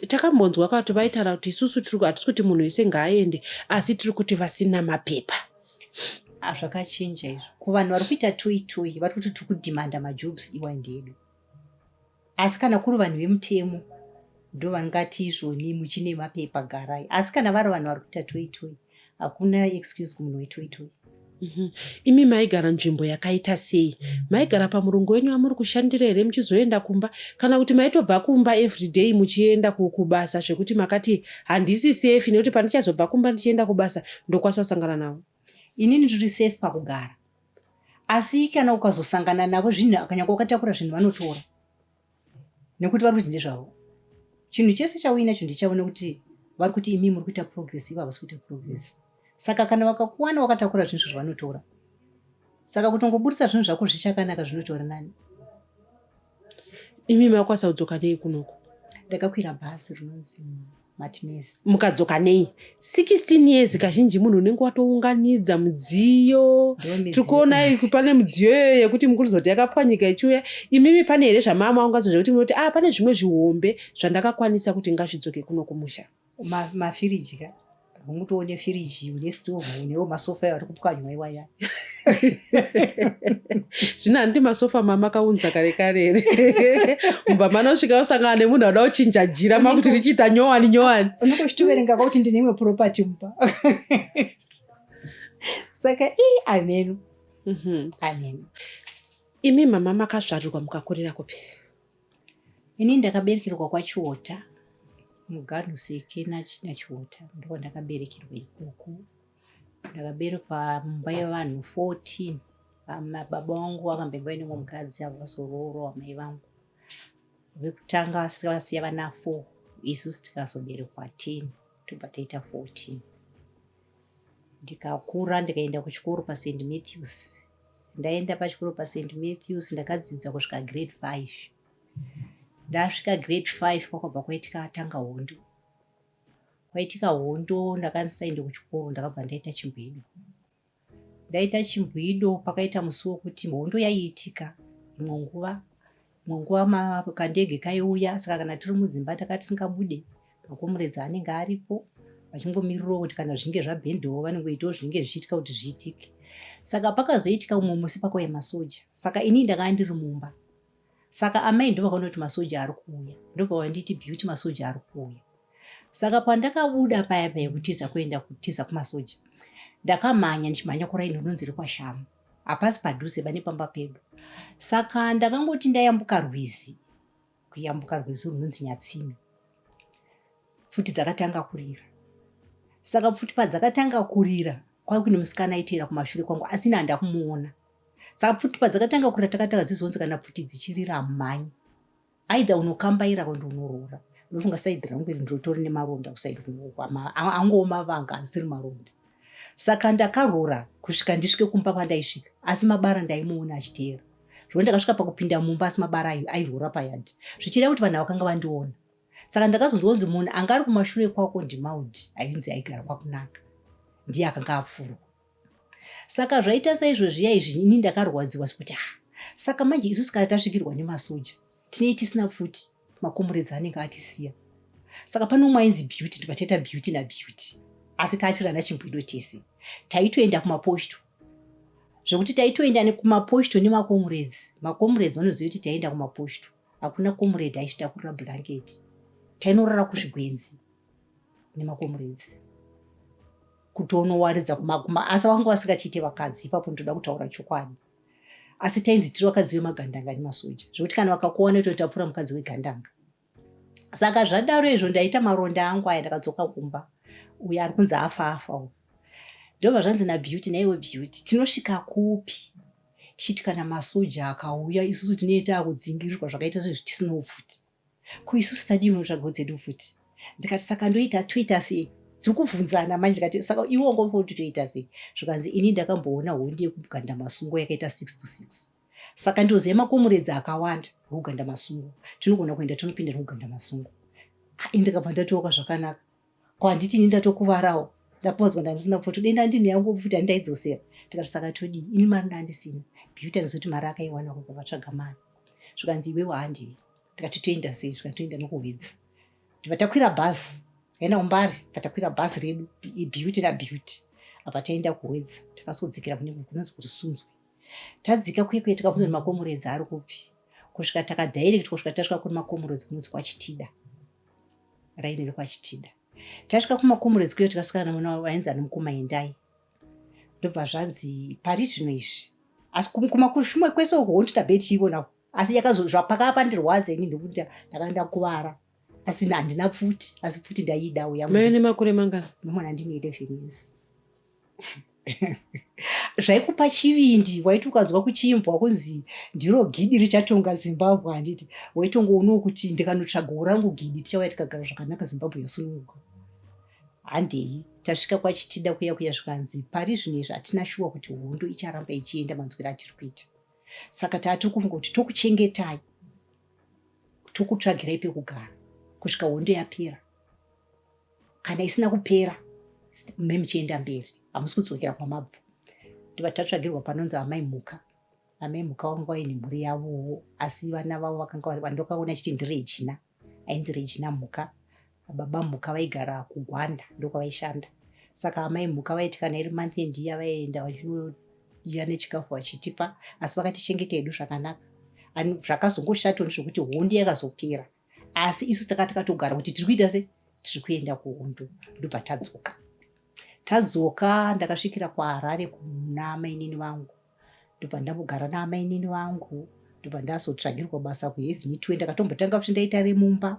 takambonzwa kuti vaitaura kuti isusu hatisi kuti munhu wese ngaaende asi tiri kuti vasina mapepa hazvakachinja ah, izvo kuvanhu vari kuita toyi toyi vari kuti tiri kudhimanda majobs iwa ndi edu asi kana kuri vanhu vemutemo ndovangati izvoni muchine mapepa garai asi kana vari vanhu vari kuita toitoi hakuna excuse kumunhu wetoitoi mhm. imi maigara nzvimbo yakaita sei maigara pamurungu wenyu wamuri kushandira here muchizoenda kumba kana kuti maitobva kumba everyday muchienda kubasa zvekuti makati handisi safe nekuti pandichazobva kumba ndichienda kubasa ndokwanisa kusangana navo inini ndiri safe pakugara asi kana ukazosangana navo zvinhu akanyanga ukatakura zvinhu vanotora nekuti vari kuti ndezvavo chinhu chese chauinacho ndichavo nekuti vari kuti imi muri kuita progress ivo havasi kuita progress saka kana vakakuwana wakatakura zvinhu zvavanotora saka kutongoburitsa zvinhu zvako zvichakanaka zvinotora nani imi makwanisa kudzoka nei kunoko ndakakwira bhasi rinonzi mukadzoka nei 16 years kazhinji munhu unenge watounganidza mudziyo tiri kuona pane mudziyo iyoyo yekuti mukurizoti yakapwanyika ichiuya imimi pane here zvamaamaungadzo zvekuti munoti a ah, pane zvimwe zvihombe zvandakakwanisa kuti ngazvidzoke kuno kumusha mafiriji ka Unguti une firiji, une stove, unewo masofa ayo ari kupwanywa iwaya. Zvino handi masofa mamakaunza kare kare here? Mumba manosvika usangana nemunhu anoda kuchinja jira makuti richiita nyowani nyowani. Unokochitoverenga kuti ndine imwe property mumba. Saka ii ameno. Mhm. Ameno. Imi mama makazvarirwa mukakurira kupi? Ini ndakaberekerwa kwaChiwota muGarnuseke naChiwota ndiko ndakaberekerwa ikoko. Ndakaberekwa mumba yevanhu 14 baba vangu vakambenge vaine mumwe mukadzi avo vazoroorwa vamai vangu vekutanga vasiya vana 4 isu tikazoberekwa 10 tobva taita 14 ndikakura ndikaenda kuchikoro paSt Matthews ndaenda pachikoro paSt Matthews ndakadzidza kusvika grade five ndasvika grade five kwakabva kwaitika atanga hondo kwaitika hondo ndakandisaende kuchikoro ndakabva ndaita chimbwido ndaita chimbwido pakaita musi wokuti hondo yaiitika imwe nguva munguva makandege kaiuya saka kana tiri mudzimba taka tisingabude makomuredzi anenge aripo vachingomirirawo kuti kana zvinge zvabhendewo vanongoitawo zvinenge zvichiitika kuti zviitike saka pakazoitika umwe musi pakauya masoja saka inii ndakava ndiri mumba saka amai ndovakaona kuti masoja ari kuuya ndobvavanditi beauty masoja ari kuuya saka pandakabuda paya paya kutiza kuenda kutiza kumasoja ndakamhanya ndichimhanya kuraini rinonzi rekwashamu hapasi padhuze bane pamba pedu saka ndakangoti ndayambuka rwizi kuyambuka rwizi runonzi nyatsimi pfuti dzakatanga kurira saka pfuti padzakatanga kurira kwave kuine musikana aiteera kumashure kwangu asi ini handa kumuona saka pfuti padzakatanga kurira takatanga dzizonzi kana pfuti dzichirira mhanyi aida unokambaira kwende unoroora ndofunga saidi rangu iri ndinotori nemaronda kusaidi kunooko angowo mavanga asiri maronda saka ndakaroora kusvika ndisvike kumba kwandaisvika asi mabara ndaimuona achiteera zvekuti ndakasvika pakupinda mumba asi mabara ayo airoora payadhi zvichireva kuti vanhu vakanga vandiona saka ndakazonzwa kunzi munhu anga ari kumashure kwako ndimaudi ainzi aigara kwakunaka ndiye akanga apfurwa saka zvaita saizvo zviya izvi ini ndakarwadziwa zvekuti ha saka manje isusu kana tasvikirwa nemasoja tinei tisina pfuti makomuredzi anenge atisiya saka pane umwe ainzi beauty ndikataita beauty nabeauty asi taatirana chimbuido tese taitoenda kumaposto zvekuti taitoenda kumaposto nemakomuredzi makomuredzi vanoziva kuti taienda kumaposto hakuna komuredzi aitotakurira blanketi tainorara kuzvigwenzi nemakomuredzi kutonowaridza kumaguma asi vanga vasingachiite vakadzi ipapo ndinoda kutaura chokwadi asi tainzi tiri vakadzi vemagandanga nemasoja zvekuti kana vakakuona totapfura mukadzi wegandanga saka zvadaro izvo ndaita maronda angu aya ndakadzoka kumba uyo ari kunzi afa afa u ndobva zvanzi nabeauty naiwe beauty tinosvika kupi tichiti kana masoja akauya isusu tinoita akudzingirirwa zvakaita sezvo tisina upfuti ko isu sitadii munotsvagawo dzedu futi ndikati saka ndoita toita sei tikubvunzana manje ndikati saka iwo ngofa kuti toita sei zvikanzi ini ndakamboona hondi yekuganda masungo yakaita six to six saka ndoziva makomuredzi akawanda ekuganda masungo tinogona kuenda tonopinda nekuganda masungo ndikabva ndatooka zvakanaka ko handiti ini ndatokuvarawo ndaponzwa ndandisina pfuti kudai ndandini yangu pfuti handaidzosera tikati saka todii imi mari ndandisina beauty andizoti mari akaiwana kuko vatsvaga mari zvikanzi iwewo handivi tikati toenda sei zvikanzi toenda nokuhwedzi ndiva takwira bhazi yaenda kumbari vatakwira bhazi redu beauty nabeauty apa taenda kuhwedza takazodzikira kune kunonzi kuti sunzwe tadzika kuye kuye tikabvunza kuti makomuredzi ari kupi kusvika takadirectwa kusvika tasvika kune makomuredzi kunonzi kwachitida raini rekwachitida tasvika kumakomo redzikweyo tikasvikana namwana wavo ainzi ana mukoma endai ndobva zvanzi pari zvino izvi asi kumakushumwe kwese uko wondita bheti chiivona asi yakazozvapakava pandirwadza ini ndokuti ndakaenda kuvara asi handina pfuti asi pfuti ndaiida uya mene makore mangani mamwana ndine 11 years zvaikupa chivindi waiti ukanzwa kuchiimbwa kunzi ndiro gidi richatonga zimbabwe handiti waitongoonawo kuti ndikanotsvagawo rangu gidi tichauya tikagara zvakanaka zimbabwe yosununguka handei tasvika kwachitida kuya kuya zvikanzi pari zvino izvi hatina shuwa kuti hondo icharamba ichienda manzwira atiri kuita saka taatiri kufunga kuti tokuchengetai tokutsvagirai pekugara kusvika hondo yapera kana isina kupera me muchienda mberi hamusi kudzokera kwamabva ndiva tatsvagirwa panonzi amai mhuka amai mhuka vangu vaine mhuri yavowo asi vana vavo vakanga vandokaona chiti ndiri ejina ainzi rejina mhuka baba mhuka vaigara kugwanda ndokwavaishanda saka amai mhuka vaiti kana iri month end iya vaienda vachinoiya nechikafu vachitipa asi vakatichengeta hedu zvakanaka zvakazongoshatoni zvekuti hondi yakazopera asi isu taka takatogara kuti tiri kuita se tiri kuenda kuhondo ndobva tadzoka tadzoka ndakasvikira kuharare kuna mainini vangu ndobva ndambogara naamainini vangu ndobva ndazotsvagirwa basa kuheveni twe ndakatombotanga kuti ndaita remumba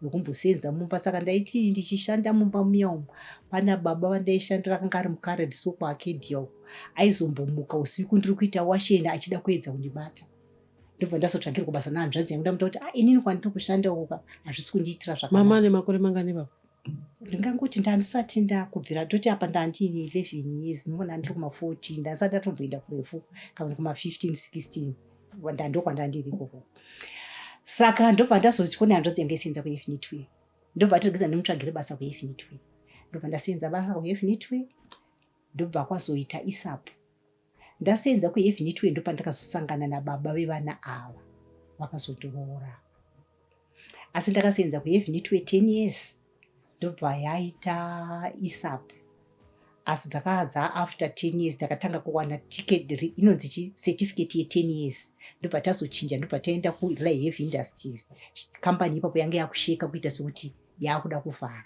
nokumbosenza mumba saka ndaiti ndichishanda mumba muya umu pana baba vandaishandira akanga ari mukaredso kuakedia uku aizombomuka usiku ndiri kuita washeni achida kuedza kundibata ndobva ndazotsvagirwa basa nahanzvadzi yangu ndamuta kuti ah, inini kwandiri kushanda uka hazvisi kundiitira zvakamama ane makore mangani vavo ndingangoti ndandisati ndakubvira toti apa ndandiine eleven years ndimona ndiri kumafourteen ndandisati ndatomboenda kurefu kana kumafifteen sixteen ndandokwandaandiri ikoko saka ndobva ndazozipo nehanzvadzi yange isenza kuefinitway ndobva tirigeza ndimutsvagire basa kuefinitway ndobva ndasenza basa kuefinitway ndobva kwazoita isapo Ndasenza kuEvn 2 ndopandakazosangana nababa vevana ava vakazondiroora. Asi ndakasenza kuEvn 2 10 years ndobva yaita ISAP. Asi dzakadza after 10 years ndakatanga kuwana ticket inonzi chi certificate ye 10 years ndobva tazochinja ndobva taenda kuLive Industry. Company ipapo yange yakusheka kuita sekuti yakuda kuvhara.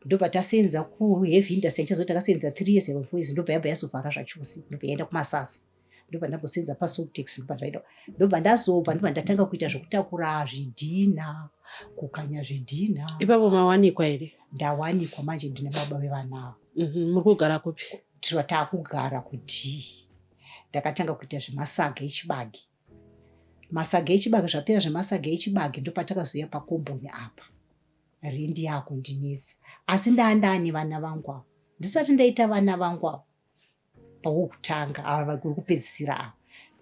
ndobva tasenza kuheavy industry ndichazoti takasenza three years eva voice ndobva yabva yazovhara zvachose ndobva yaenda kumasasi ndobva ndambosenza pasotex ndobva zvaita ndobva ndazobva ndobva ndatanga kuita zvekutakura zvidhinha kukanya zvidhinha ipapo mawanikwa here ndawanikwa manje ndine baba vevanavo mhm, muri kugara kupi tiro taakugara kudii ndakatanga kuita zvemasaga echibagi masaga echibage zvapera zvemasaga echibage ndopatakazouya pakomboni apa rindi yakundinetsa asi ndaa ndaane vana vangu avo ndisati ndaita vana vangu avo pawokutanga ava vakuri kupedzisira ava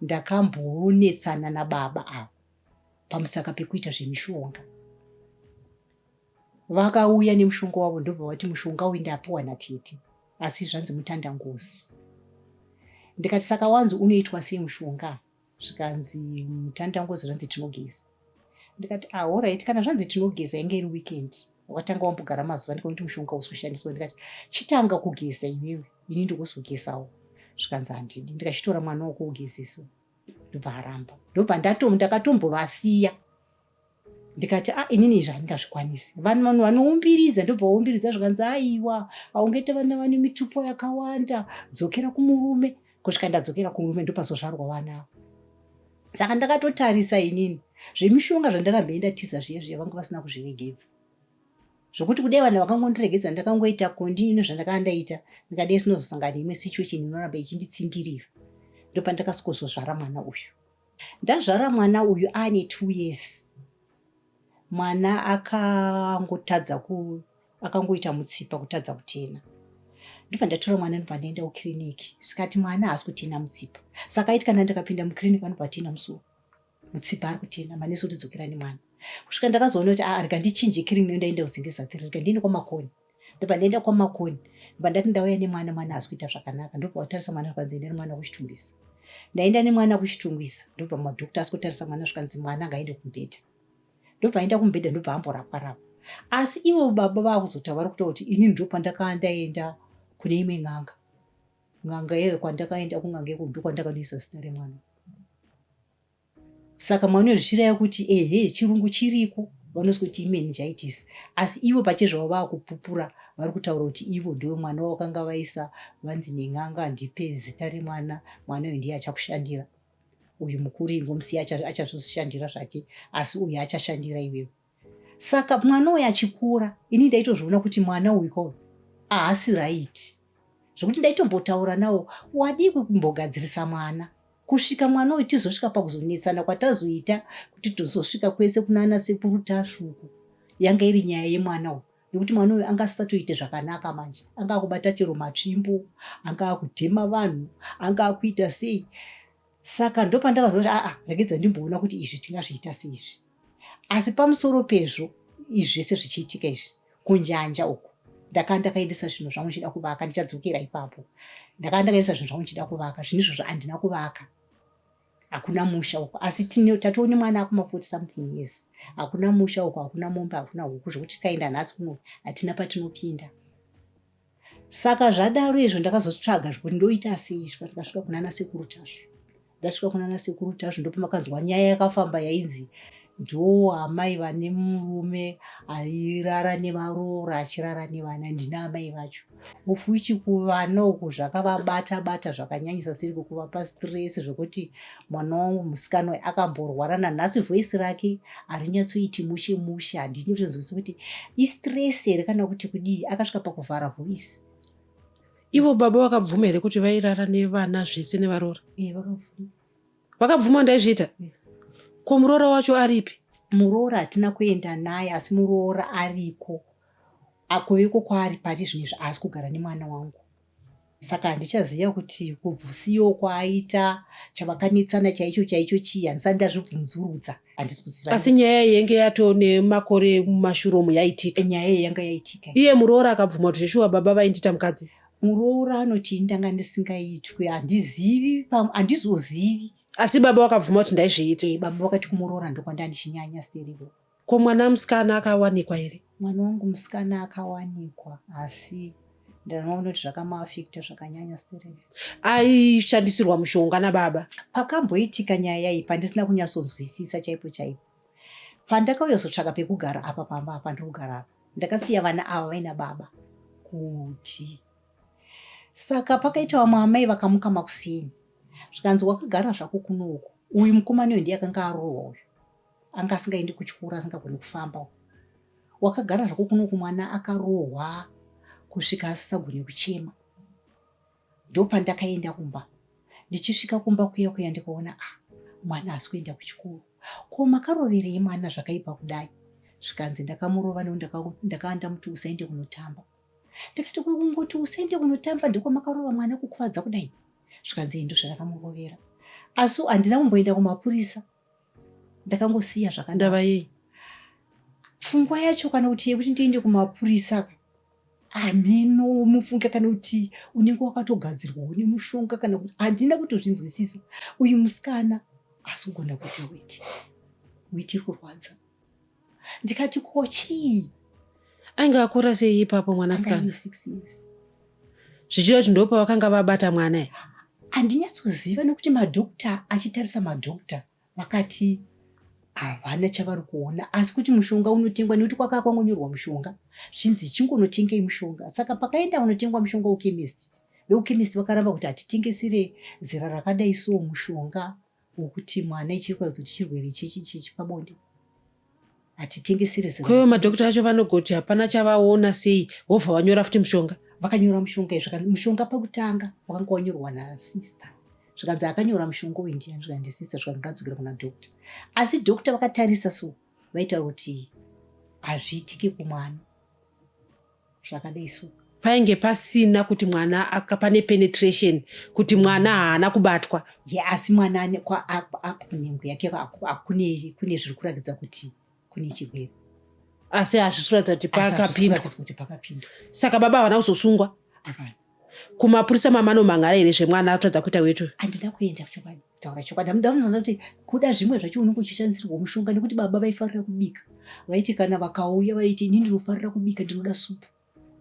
ndakambonetsana nababa avo pamusaka pekuita zvemishonga Vakauya nemushonga wavo ndobva vati mushonga uyu ndapiwa natete asi zvanzi mutanda ngozi. Ndikati saka wanzi unoitwa sei mushonga? Zvikanzi mutanda ngozi zvanzi tinogeza. Ndikati ah alright kana zvanzi tinogeza yange iri weekend wakatanga wambogara mazuva ndikakuti mushonga usi kushandiswa ndikati chitanga kugeza iwewe ini ndikuzogezawo zvikanzi handidi ndikachitora mwana wokugezeswa ndobva aramba ndobva ndatomu ndakatombovasiya ndikati a ah, inini izvi handingazvikwanisi vanhu vanoumbiridza ndobva waumbiridza zvikanzi aiwa haungete vana vane mitupo yakawanda dzokera kumurume kusvika ndadzokera kumurume ndopazozvarwa vana avo saka ndakatotarisa inini zvemishonga zvandakamboenda tiza zviye zviye vanga vasina kuzviregedza zvokuti kudai vanhu vakangondiregedza ndakangoita kondinino zvandakaa ndaita ndikadai sinozosangana imwe situation inoramba ichinditsingirira ndopandakasikozozvara mwana uyu ndazvara mwana uyu aane two years mwana akangotadza ku akangoita mutsipa kutadza kutena ndobva ndatora mwana ndobva ndaenda kukiriniki zvikati mwana haasi kutena mutsipa saka aiti kana ndakapinda mukiriniki vanobva vatena musuwo mutsipa ari kutena manesi kuti dzokerani mwana kusvika ndakazoona kuti ah, rega ndichinje kiriniki ndaenda kuzingizatiri rega ndiende kwamakoni ndobva ndaenda kwamakoni ndobva ndati ndauya nemwana mwana haasi kuita zvakanaka ndobva watarisa mwana zvikanzi enda nemwana kuchitungisa ndaenda nemwana kuchitungisa ndobva madhokta asi kutarisa mwana zvikanzi mwana ngaende kumubhedha ndobva aenda kumubhedha ndobva amborapwa rapwa asi ivo baba vakuzotaura kuta kuti ini ndo pandakaa ndaenda kune imwe n'anga n'anga yeve kwandakaenda kun'anga yekundo kwandakanoisa zita remwana saka maunozvichiraya kuti ehe chirungu chiriko vanonzi kuti imeningitis asi ivo pachezvavo vakupupura vari kutaura kuti ivo ndiwe mwana wakanga vaisa vanzi nen'anga handipe zita remwana mwana uyu ndiye achakushandira uyu mukuru ingomusiya achazvozvishandira zvake asi uyu achashandira iwewe Saka mwana uyu achikura ini ndaitozviona kuti mwana uyu ko ahasi right zvekuti ndaitombotaura nawo wadii kumbogadzirisa mwana kusvika mwana uyu tizosvika pakuzonetsana kwatazoita kuti tozosvika kwese kunana sekuru tasvuku yanga iri nyaya yemwana uyu nekuti mwana uyu anga asisatoite zvakanaka manje anga akubata chero matsvimbo anga akudhema vanhu anga akuita sei saka ndopandakazoona kuti aa regedza ndimboona kuti izvi tingazviita seizvi asi pamusoro pezvo izvi zvese zvichiitika izvi kunjanja uku ndakaa ndakaendesa zvinhu zvangu ndichida kuvaka ndichadzokera ipapo ndakaa ndakaendesa zvinhu zvangu ndichida kuvaka zvinhu izvozvo handina kuvaka hakuna musha uko asi tine tatoo nemwana akuma forty something years hakuna musha uko hakuna mombe hakuna huku zvokuti tikaenda nhasi kuno hatina patinopinda saka zvadaro izvo ndakazotsvaga zvekuti ndoita asiizvo ndikasvika kunana sekuru tasvu ndasvika kunana sekuru tasvu ndopomakanzwa nyaya yakafamba yainzi ndoo amai vane murume airara nevaroora achirara nevana ndina amai vacho ofuchi kuvana uku zvakavabata bata zvakanyanyisa siri kukuvapa stress zvekuti mwana wangu musikana uyu akamborwara nanhasi voice rake harinyatsoiti mushe mushe handini kutonzwisa kuti istress here kana kuti kudii akasvika pakuvhara voice ivo baba vakabvuma here kuti vairara nevana zvese nevaroora eh, vakabvuma ndaizviita eh. ko muroora wacho aripi muroora hatina kuenda naye asi muroora ariko akoveko kwaari pari zvino izvi haasi kugara nemwana wangu saka handichaziva kuti kubvusiyo kwaaita chavakanetsana chaicho chaicho chii handisati ndazvibvunzurudza handisi kuziva asi nyaya yenge yato nemakore mumashuromu yaitika nyaya iyi yanga yaitika iye muroora akabvuma kuti zveshuwa baba vaindita mukadzi muroora anoti ini ndanga ndisingaitwe handizivi handizozivi asi baba vakabvuma kuti ndaizviita e, baba vakati kumuroora ndokwandandi chinyanya steriko Ko mwana musikana akawanikwa here? Mwana wangu musikana akawanikwa asi ndinoona kuti zvakamaafekta zvakanyanya stereve aishandisirwa mushonga nababa pakamboitika nyaya yaiyi pandisina kunyatsonzwisisa chaipo chaipo pandakauya zotsvaka pekugara apa pamba apa ndiri kugara apa ndakasiya vana ava vaina baba kuti saka pakaita vamwe amai vakamuka makuseni zvikanzi wakagara zvako kunouku uyu mukomani uyu ndiye akanga arohwa uyu anga asingaendi kuchikoro asingagoni kufamba wakagara zvako kuno kumwana akarohwa kusvika asisagoni kuchema ndopandakaenda kumba ndichisvika kumba kuya kuya ndikaona a ah, mwana asi kuenda kuchikoro ko makaroverei mwana zvakaipa kudai zvikanzi ndakamurova neu ndakavanda muti usaende kunotamba ndikati kungoti usaende kunotamba ndiko makarova mwana kukuvadza kudai zvikanzi endo zvandakamurovera asi handina kumboenda kumapurisa ndakangosiya zvakanaka ndava yei pfungwa yacho kana kuti yekuti ndiende kumapurisa hameno mufunge kana kuti unenge wakatogadzirwa une mushonga kana kuti handina kutozvinzwisisa uyu musikana asi kugona kuita weti weti kurwadza ndikati ko chii ainge akura sei ipapo mwanasikana zvichida kuti ndopa vakanga vabata mwana e handinyatsoziva nekuti madokta achitarisa madokta vakati havana chavari kuona asi kuti mushonga unotengwa nekuti kwakaa kwangonyorwa mushonga zvinzi chingonotengei mushonga saka pakaenda vanotengwa mushonga wekemist vekukemist vakaramba kuti hatitengesere zera rakadai so mushonga wokuti mwana ichiri kuratidza kuti chirwere chepabonde hatitengesere zera kweyo madhokota acho vanogoti hapana chavaona sei wobva wanyora futi mushonga vakanyora mushonga izvo mushonga pakutanga wakanga wanyorwa nasister zvikanzi akanyora mushonga uyu ndiani zvikanzi ndisister zvikanzi ngadzokera kuna dhokta asi dhokta vakatarisa so vaitaura kuti hazviitiki kumwana zvakadai so painge pasina kuti mwana pane penetration kuti mwana haana kubatwa ye asi mwana nhengo yake kune zviri kuratidza kuti kune chirwere asi hazvisi kuratidza kuti pakapindwa saka baba havana kuzosungwa kumapurisa mamano mangara here zvemwana atadza kuita wetu handina kuenda kuchokwadi taura chokwadi hamuda kunoona kuti kuda zvimwe zvacho unenge uchishandisirwa mushonga nekuti baba vaifarira kubika vaiti kana vakauya vaiti ini ndinofarira kubika ndinoda supu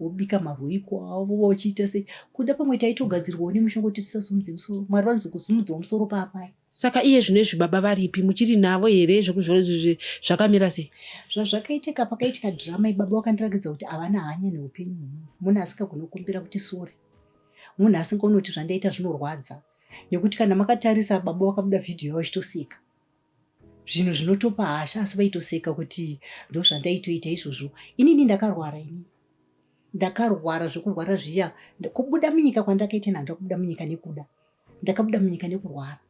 wobika marwiko avo vachiita sei kuda pamwe taitogadzirwawo nemushonga kuti tisasumudze musoro mwari vanozokusumudzawo musoro paapaya Saka iye zvino izvi baba varipi muchiri navo here zvakamira sei? Zvazvakaitika pakaitika drama ibaba wakandirakidza kuti havana hanya neupenyu hwemunhu. Munhu asingagoni kukumbira kuti sori. Munhu asingoni kuti zvandaita zvinorwadza. Nekuti kana makatarisa baba wakabuda vhidhiyo yavo ichitoseka. Zvinhu zvinotopa hasha asi vaitoseka kuti ndozvandaitoita izvozvo. Inini ndakarwara ini. Ndakarwara zvekurwara zviya. Kubuda munyika kwandakaita nhandakubuda munyika nekuda. ndakabuda munyika nekurwara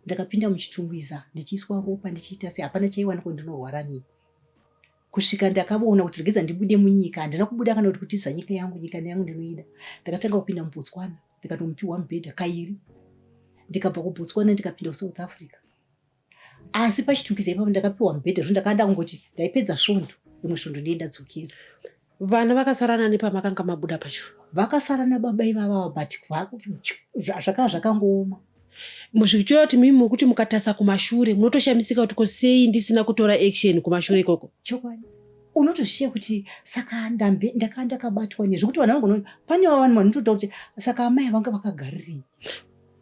ndakapinda muchitungwiza ndichiiswa ropa ndichiita se hapana chaiwana kuti ndinorwara nei kusvika ndakavona kuti regedza ndibude munyika handina kubuda kana kuti kutiza nyika yangu nyika yangu ndinoida ndakatanga kupinda mubotswana ndikatomupiwa mubhedha kairi ndikabva kubotswana ndikapinda kusouth africa asi pachitungiza ipapo ndakapiwa mubhedha zvo ndakanda kungoti ndaipedza svondo rimwe svondo ndiye ndadzokera vana vakasarana nepamakanga mabuda pacho vakasarana baba ivavava but zvakava zvakangooma muzvichora kuti mimi mukuti mukatasa kumashure munotoshamisika kuti ko sei ndisina kutora action kumashure ikoko chokwadi unotozviziva kuti saka ndambe ndakava ndakabatwa nezvekuti vanhu vangu pane vavanhu vanotoda kuti saka amai vanga vakagarirei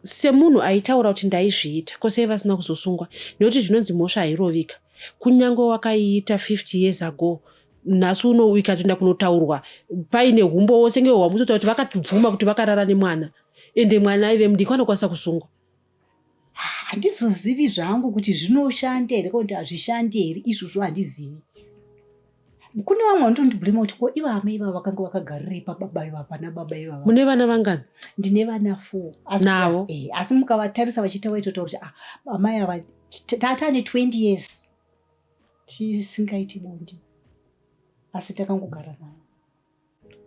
semunhu aitaura kuti ndaizviita ko sei vasina kuzosungwa nekuti zvinonzi mhosva hairovika kunyange wakaiita 50 years ago nhasi uno ikatoenda kunotaurwa paine humbowo senge hwamutotaura kuti vakatibvuma kuti vakarara nemwana ende mwana aive mudiki vanokwanisa kusungwa handizozivi zvangu kuti zvinoshanda here kana kuti hazvishandi here izvozvo handizivi kune vamwe vanotondibhurima kuti ko iva amai ivavo vakanga vakagarirei pababa ivavo pana baba ivavo mune vana vangani ndine vana four navo eh, asi mukavatarisa vachiita vaitotaura kuti ah, amai ava tatane 20 years tisingaiti bondi asi takangogara navo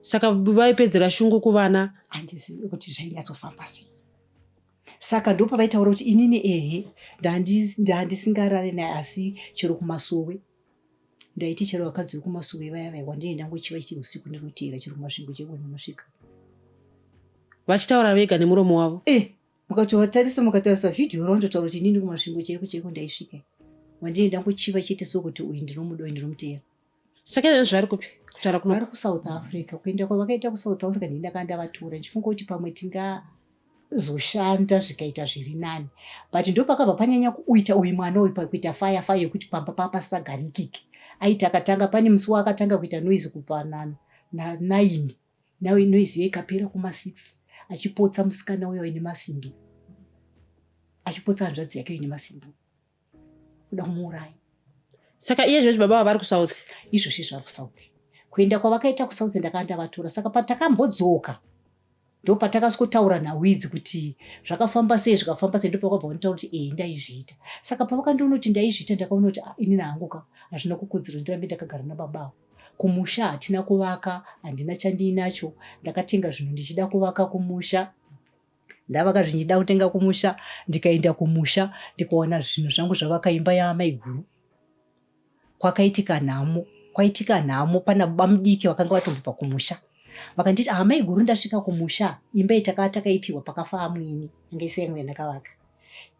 saka vaipedzera shungu kuvana handizivi kuti zvainyatsofamba sei saka ndo pavaitaura kuti inini ehe ndandisingarare naye asi chero kumasowe ndaiti chero vakadzi vekumasowe vaya vaya wandienda ngochiva chiti usiku ndinoteera chero kumasvingo cheko ndinosvika vachitaura vega nemuromo wavo e eh, mukatovatarisa mukatarisa vhidhiyo raundotaura kuti inini kumasvingo cheko cheko ndaisvika wandienda ngochiva chete sokuti uyu ndinomuda uyu ndinomuteera saka izvozvo vari kupi kutaura kuno vari kusouth africa kuenda kwavakaita kusouth africa ndini ndakanga ndavatura ndichifunga kuti pamwe tingazoshanda zvikaita zviri nani but ndopakabva panyanya kuita uyu mwana uyu pakuita faya faya yekuti pamba paa pasagarikike aiti akatanga pane musi waakatanga kuita noise kubva nanaini nayo noise yo ikapera kumasix achipotsa musikana uyo ine masimbi achipotsa hanzvadzi yake ine masimbi kuda kumuuraya saka iye zvozvi baba vavari kusouth izvozvi zvari kusouth kuenda kwavakaita kusouth ndakava ndavatora saka patakambodzoka ndo patakasikotaura nawidzi kuti zvakafamba sei zvikafamba sei ndopakabva vanotaura kuti ee ndaizviita saka pavakandiona kuti ndaizviita ndakaona kuti ah, inini hangu ka hazvina kukudziro ndirambe ndakagara nababao kumusha hatina kuvaka handina chandiinacho ndakatenga zvinhu ndichida kuvaka kumusha ndavaka zvichida kutenga kumusha ndikaenda kumusha ndikaona zvinhu zvangu zvavaka imba yaamai guru kwakaitika nhamo kwaitika nhamo pana bamudiki vakanga vatombobva kumusha vakanditi amai guru ndasvika kumusha imba itakava takaipiwa pakafa amwene anga isai mwe ndakavaka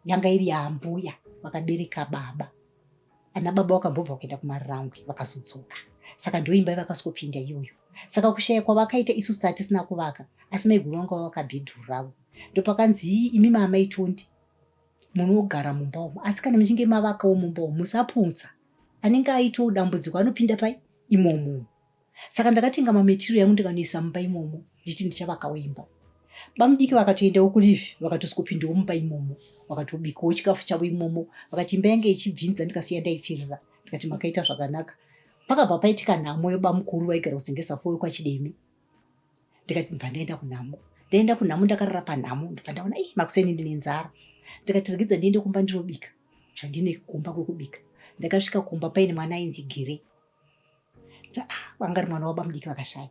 yanga iri yaambuya vakabereka baba ana baba wakambobva kuenda kumarangwe vakazodzoka saka ndiyo imba yavakasokopinda iyoyo saka kushaya kwavakaita isu sita tisina kuvaka asi maiguru vanga vavaka bhedhuru ravo ndopakanzi imi maamaitondi munogara mumba umu asi kana muchinge mavakawo mumba umu musaputsa anenge aitawo dambudziko anopinda pai imomumu saka ndakatenga mametiriyo yangu ndikanoisa mumba imomo ndichiti ndichavakawo imba bamudiki vakatoendawo kulive vakatosokopindawo mumba imomo vakatobikawo chikafu chavo imomo vakati imba yange ichibvinza ndikasiya ndaipfirira ndikati makaita zvakanaka pakabva paitika nhamo yobamukuru vaigara kuzengesa foyo kwachidemi ndikati ndibva ndaenda kunhamo ndaenda kunhamo ndakarara panhamo ndibva ndaona i makuseni ndine nzara ndikati regedza ndiende kumba ndinobika zvandine kumba kwekubika ndakasvika kumba paine mwana ainzi gire vanga ri mwana waba mudiki vakashaya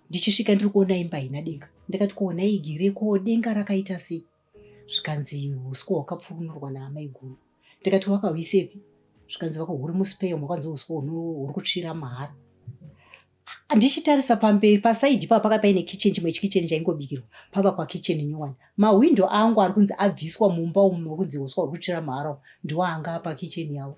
ndichisvika ndiri kuona imba haina denga ndakati kuona igere ko denga rakaita sei zvikanzi uswa hwakapfukunurwa naamai guru ndikati wakahuisepi zvikanzi vakahuri muspeyo mwakanzi uswa huri kutsvira mahara ndichitarisa pamberi pasaidi paa paka paine kitchen chimwe chikicheni chaingobikirwa pava kwakitchen nyowani mahwindo angu ari kunzi abviswa mumba umu kunzi uswa huri kutsvira mahara ndiwo anga apa kitchen yavo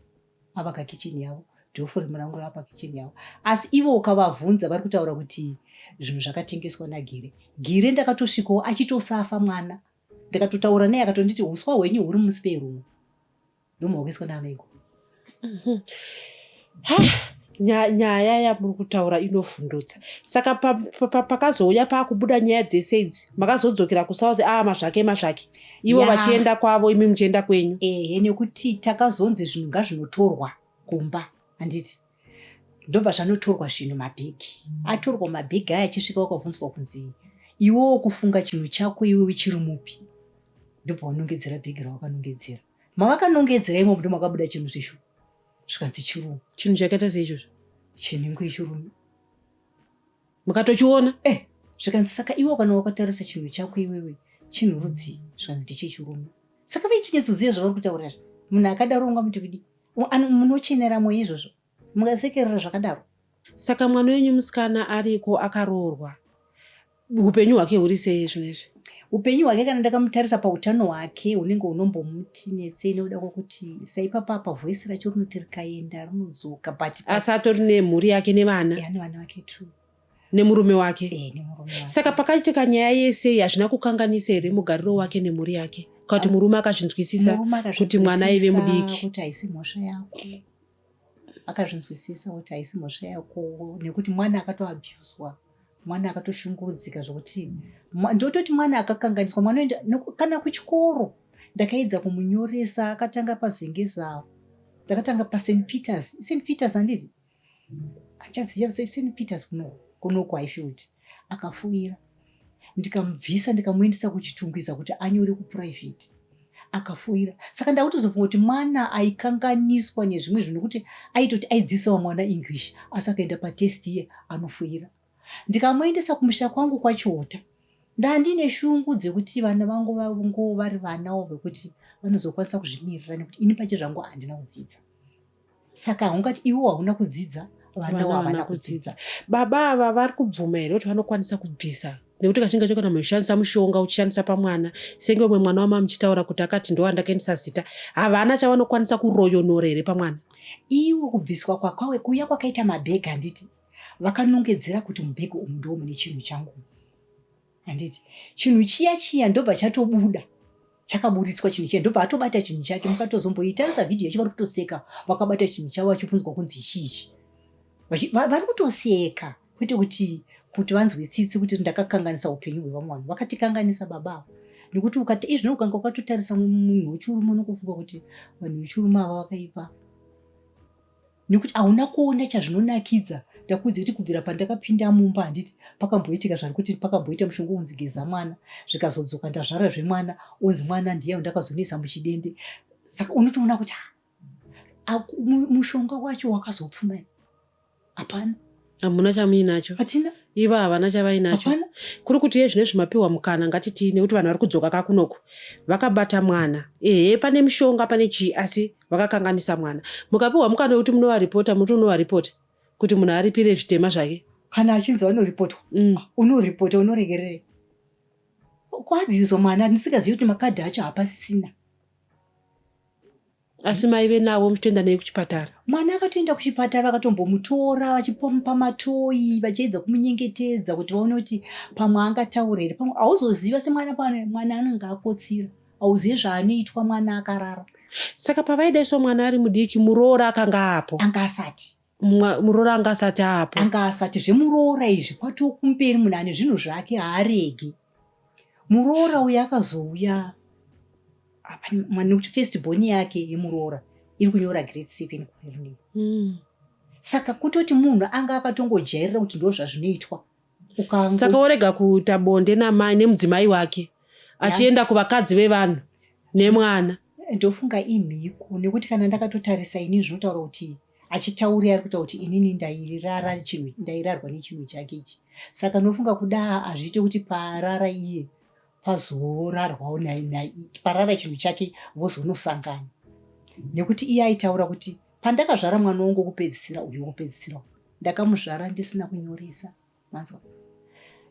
pavaka kitchen yavo dofo remurango rava pakitchen yavo asi ivo ukavavhunza vari kutaura kuti zvinhu zvakatengeswa nagire gire ndakatosvikawo achitosafa mwana ndakatotaura naye akatonditi uswa hwenyu huri musi perumu ndomuhokeswa naanoiko mhm. nyaya yamuri kutaura inovhundutsa saka pakazouya paakubuda nyaya dzese idzi makazodzokera kusouth aa ah, mazvake mazvake ivo vachienda kwavo imi muchienda kwenyu ehe nekuti takazonzi zvinhu ngazvinotorwa kumba handiti ndobva zvanotorwa zvinhu mabhegi atorwa mabhegi aya achisvika wakabvunzwa kunzi iwewo kufunga chinhu chako iwe uchiri mupi ndobva wanongedzera bhegi rawakanongedzera mavakanongedzera imomo ndo makabuda chinhu zvishu zvikanzi chirumu chinhu chakaita seizvozvo chinenge chirumu mukatochiona eh zvikanzi saka iwe kana wakatarisa chinhu chako iwewe chinhu rudzii zvikanzi ndechechirume saka vaichinyatsoziva zvavari kutaura zvi munhu akadaro unga muti kudi munocheneramo izvozvo mungasekerera zvakadaro saka mwana wenyu musikana ariko akaroorwa upenyu hwake huri sei zvino izvi upenyu hwake kana ndakamutarisa pautano hwake hunenge hunombomuti netsei nekuda kwokuti saipapapa voisi racho rinoti rikaenda rinodzoka but asi atori nemhuri yake nevana ane vana vake two nemurume wake e, nemurume wake saka pakaitika nyaya yese hazvina kukanganisa here mugariro wake nemhuri yake kuti murume akazvinzwisisa kuti mwana aive mudiki kuti haisi mhosva yako akazvinzwisisa kuti haisi mhosva yako nekuti mwana akatoabuswa mwana akatoshungurudzika zvokuti ndototi mwana akakanganiswa mwana oenda kana kuchikoro ndakaedza kumunyoresa akatanga pazengezawo ndakatanga past peters st peters handiti achaziva st peters kunoku haifield akafuvira ndikamubvisa ndikamuendesa kuchitungwiza kuti anyore kuprivate akafoira saka ndakutozofunga kuti mwana aikanganiswa nezvimwe zvinhu kuti aitoti aidzisawo mwana english asi akaenda patest iye anofoira ndikamuendesa kumusha kwangu kwachota ndandine shungu dzekuti vana vangu vangu vari vanawo vekuti vanozokwanisa kuzvimirira nekuti ini pache zvangu handina kudzidza saka haungati iwo hauna kudzidza vana wavana kudzidza baba ava vari kubvuma here kuti vanokwanisa kubvisa nekuti kachinga cho kana muchishandisa mushonga uchishandisa pamwana senge umwe mwana wama muchitaura kuti akati ndo andakaendisa zita havana chavanokwanisa kuroyonora here pamwana iwo kubviswa kwakwawe kuya kwakaita mabhegi handiti vakanongedzera kuti mubhegi umu ndo mune chinhu changu handiti chinhu chiya chiya ndobva chatobuda chakaburitswa chinhu chiya ndobva atobata chinhu chake mukatozomboitarisa vhidhiyo yacho vari kutoseka vakabata chinhu chavo vachibvunzwa kunzi chichi vari kutoseka kwete kuti kuti vanzwe tsitsi kuti ndakakanganisa upenyu hwevamwe vanhu vakatikanganisa baba avo nekuti ukati izvino ukanga ukatotarisa munhu wechiurume unokufunga kuti vanhu vechiurume ava vakaipa nekuti hauna kuona chazvinonakidza ndakuudza kuti kubvira pandakapinda mumba handiti pakamboitika zvani kuti pakamboita mushonga unzi geza mwana zvikazodzoka ndazvara zvemwana unzi mwana ndiye ndakazonoisa muchidende saka unotoona kuti ah, mushonga wacho wakazopfuma hapana hamuna chamuinacho hatina ivo havana chavainacho kuri kuti yezvine zvimapiwa mukana ngatitii nekuti vanhu vari kudzoka kakunoku vakabata mwana ehe pane mushonga pane chii asi vakakanganisa mwana mukapiwa mukana wekuti munovaripota muti unovaripota kuti munhu aripire zvitema zvake kana achinzi vanoripotwa mm. unoripota unoregerere kuabuza mwana ndisingazivi kuti makadhi acho hapasisina asi maive navo muchitoenda nei kuchipatara mwana akatoenda kuchipatara akatombomutora vachipomupa matoyi vachiedza kumunyengetedza kuti vaone kuti pamwe angataura here pamwe hauzoziva semwana pane mwana anenge akotsira hauzive zvaanoitwa mwana akarara saka pavaidaiswa mwana ari mudiki muroora akanga apo anga asati muroora anga asati apo anga asati zvemuroora izvi kwatiwo kumberi munhu ane zvinhu zvake haarege muroora uyo akazouya nekuti first boni yake yemuroora iri kunyora grade seven kuherni mm. saka kutoti munhu anga akatongojairira kuti ndo zvazvinoitwa saka worega kuita bonde namai nemudzimai wake achienda kuvakadzi vevanhu nemwana ndofunga imhiko nekuti kana ndakatotarisa ini zvinotaura kuti achitauri ari kutaura kuti inini ndairara chinhu ndairarwa nechinhu chake ichi saka ndofunga kuda hazviite kuti parara iye pazorarwawo parara chinhu chake vozonosangana nekuti iye aitaura kuti pandakazvara mwana wangu wokupedzisira uyu wokupedzisira ndakamuzvara ndisina kunyoresa manzwa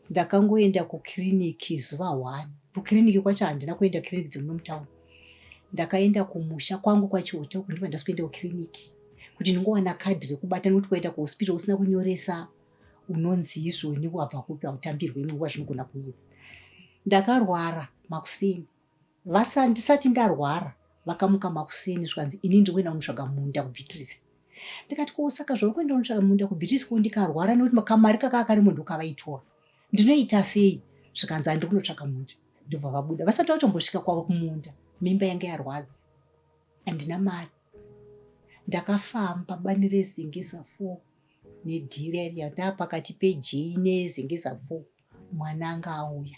ndakangoenda kukiriniki zuva one kukiriniki kwacho handina kuenda kiriniki dzemuno mutauni ndakaenda kumusha kwangu kwachiota uku ndiva ndasikuenda kukiriniki kuti ndingowana kadhi rekubata nekuti kwaenda kuhospital usina kunyoresa unonzi izvoni wabva kupi hautambirwe imwe nguva zvinogona kuedza ndakarwara makuseni Vasa ndisati ndarwara vakamuka makuseni zvikanzi ini ndiri kuenda kunotsvaga munda kuBeatrice. Ndikati ko saka zvauri kuenda kunotsvaga munda kuBeatrice ko ndikarwara nekuti kamari kakaa karimo ndokavaitora. Ndinoita sei? Zvikanzi handiri kunotsvaga munda. Ndobva vabuda vasati vatombosvika kwavo kumunda. Mimba yange yarwadzi. Handina mari. Ndakafamba bani rezengeza four nedhiri yari yandava pakati pejei nezengeza four. mwana anga auya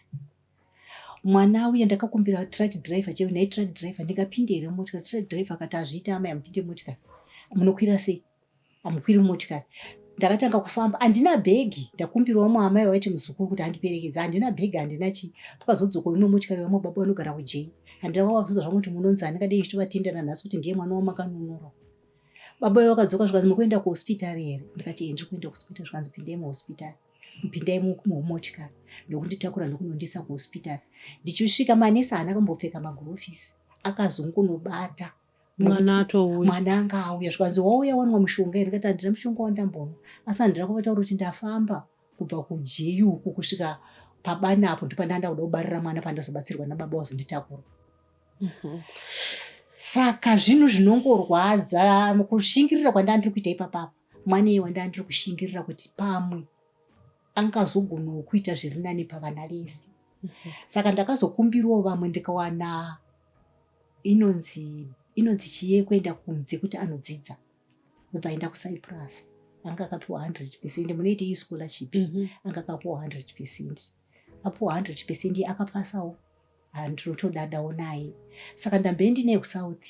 mwana auya ndakakumbira truck driver chero nhai truck driver ndingapinde here motikari truck driver akati azviita amai amupinde motikari munokwira sei amukwiri motikari ndakatanga kufamba handina bhegi ndakumbirwa muamai waiti muzukuru kuti andiperekedza handina bhegi handina chii pakazodzoka imwe motikari vamwe baba vanogara kujei handina kwavabvunza zvangu kuti munonzi handingadei ndichitovatendana nhasi kuti ndiye mwana wamakanunurwa baba vakadzoka zvikanzi mukuenda kuhospitari here ndikati ndiri kuenda kuhospitari zvikanzi pindei muhospitari Pindai mumotikari ndokunditakura ndokunondisa kuhospitari. Ndichisvika manesi haana kambopfeka magurovhisi akazongunobata mwana atouya mwana anga auya zvikanzi wauya wanwa mushonga here kati handina mushonga wandambonwa asi handina kuvataura kuti ndafamba kubva kujeyuku kusvika pabana apo ndipandanda kuda kubarira mwana pandazobatsirwa nababa wazonditakura mhm. saka zvinhu zvinongorwadza kushingirira kwandandiri kuita ipapapa Mwanei wandanga ndiri kushingirira kuti pamwe angazogonawo kuita zviri nani pavana vese. Mhm. Saka ndakazokumbirawo vamwe ndikawana inonzi inonzi chiye kuenda kunze kuti anodzidza obva aenda kucyprus anga akapiwa 100 percent munoita iyi scholarship mhm. anga akapiwa 100 percent apiwa 100 percent akapasawo Ah, ndinotodada onai saka ndambe ndine kusouth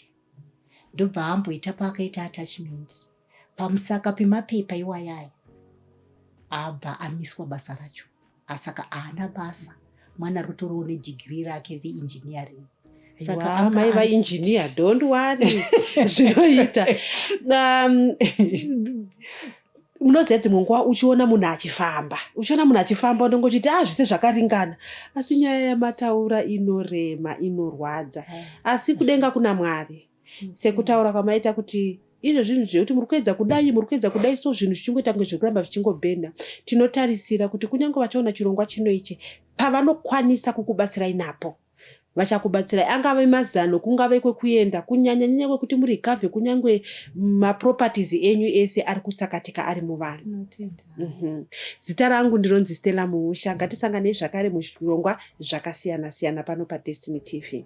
ndobva amboita paakaita attachment pamusaka pemapepa iwayaya abva amiswa basa racho asaka ah, aana basa mwana rutoriwo nedigiri rake reengineering sakamai vainjiniya don't worry zvinoita um, munoziva dzimwe nguva uchiona munhu achifamba uchiona munhu achifamba unenge uchiti a zvise zvakaringana asi nyaya yamataura inorema inorwadza eh. asi kudenga kuna mwari mm. sekutaura kwamaita kuti izvo zvinhu zvekuti muri kuedza kudai muri kuedza kudai so zvinhu zvichingoita kunge zvekuramba zvichingobhenda tinotarisira kuti kunyange vachaona chirongwa chino ichi pavanokwanisa kukubatsirai napo vachakubatsirai angave mazano kungave kwekuenda kunyanya nyanya kwekuti muri gave kunyange maproperties enyu ese ari kutsakatika ari muvanhu mhm. zita rangu ndironzi stella muusha ngatisanganei zvakare muzvirongwa zvakasiyana siyana pano padestiny tv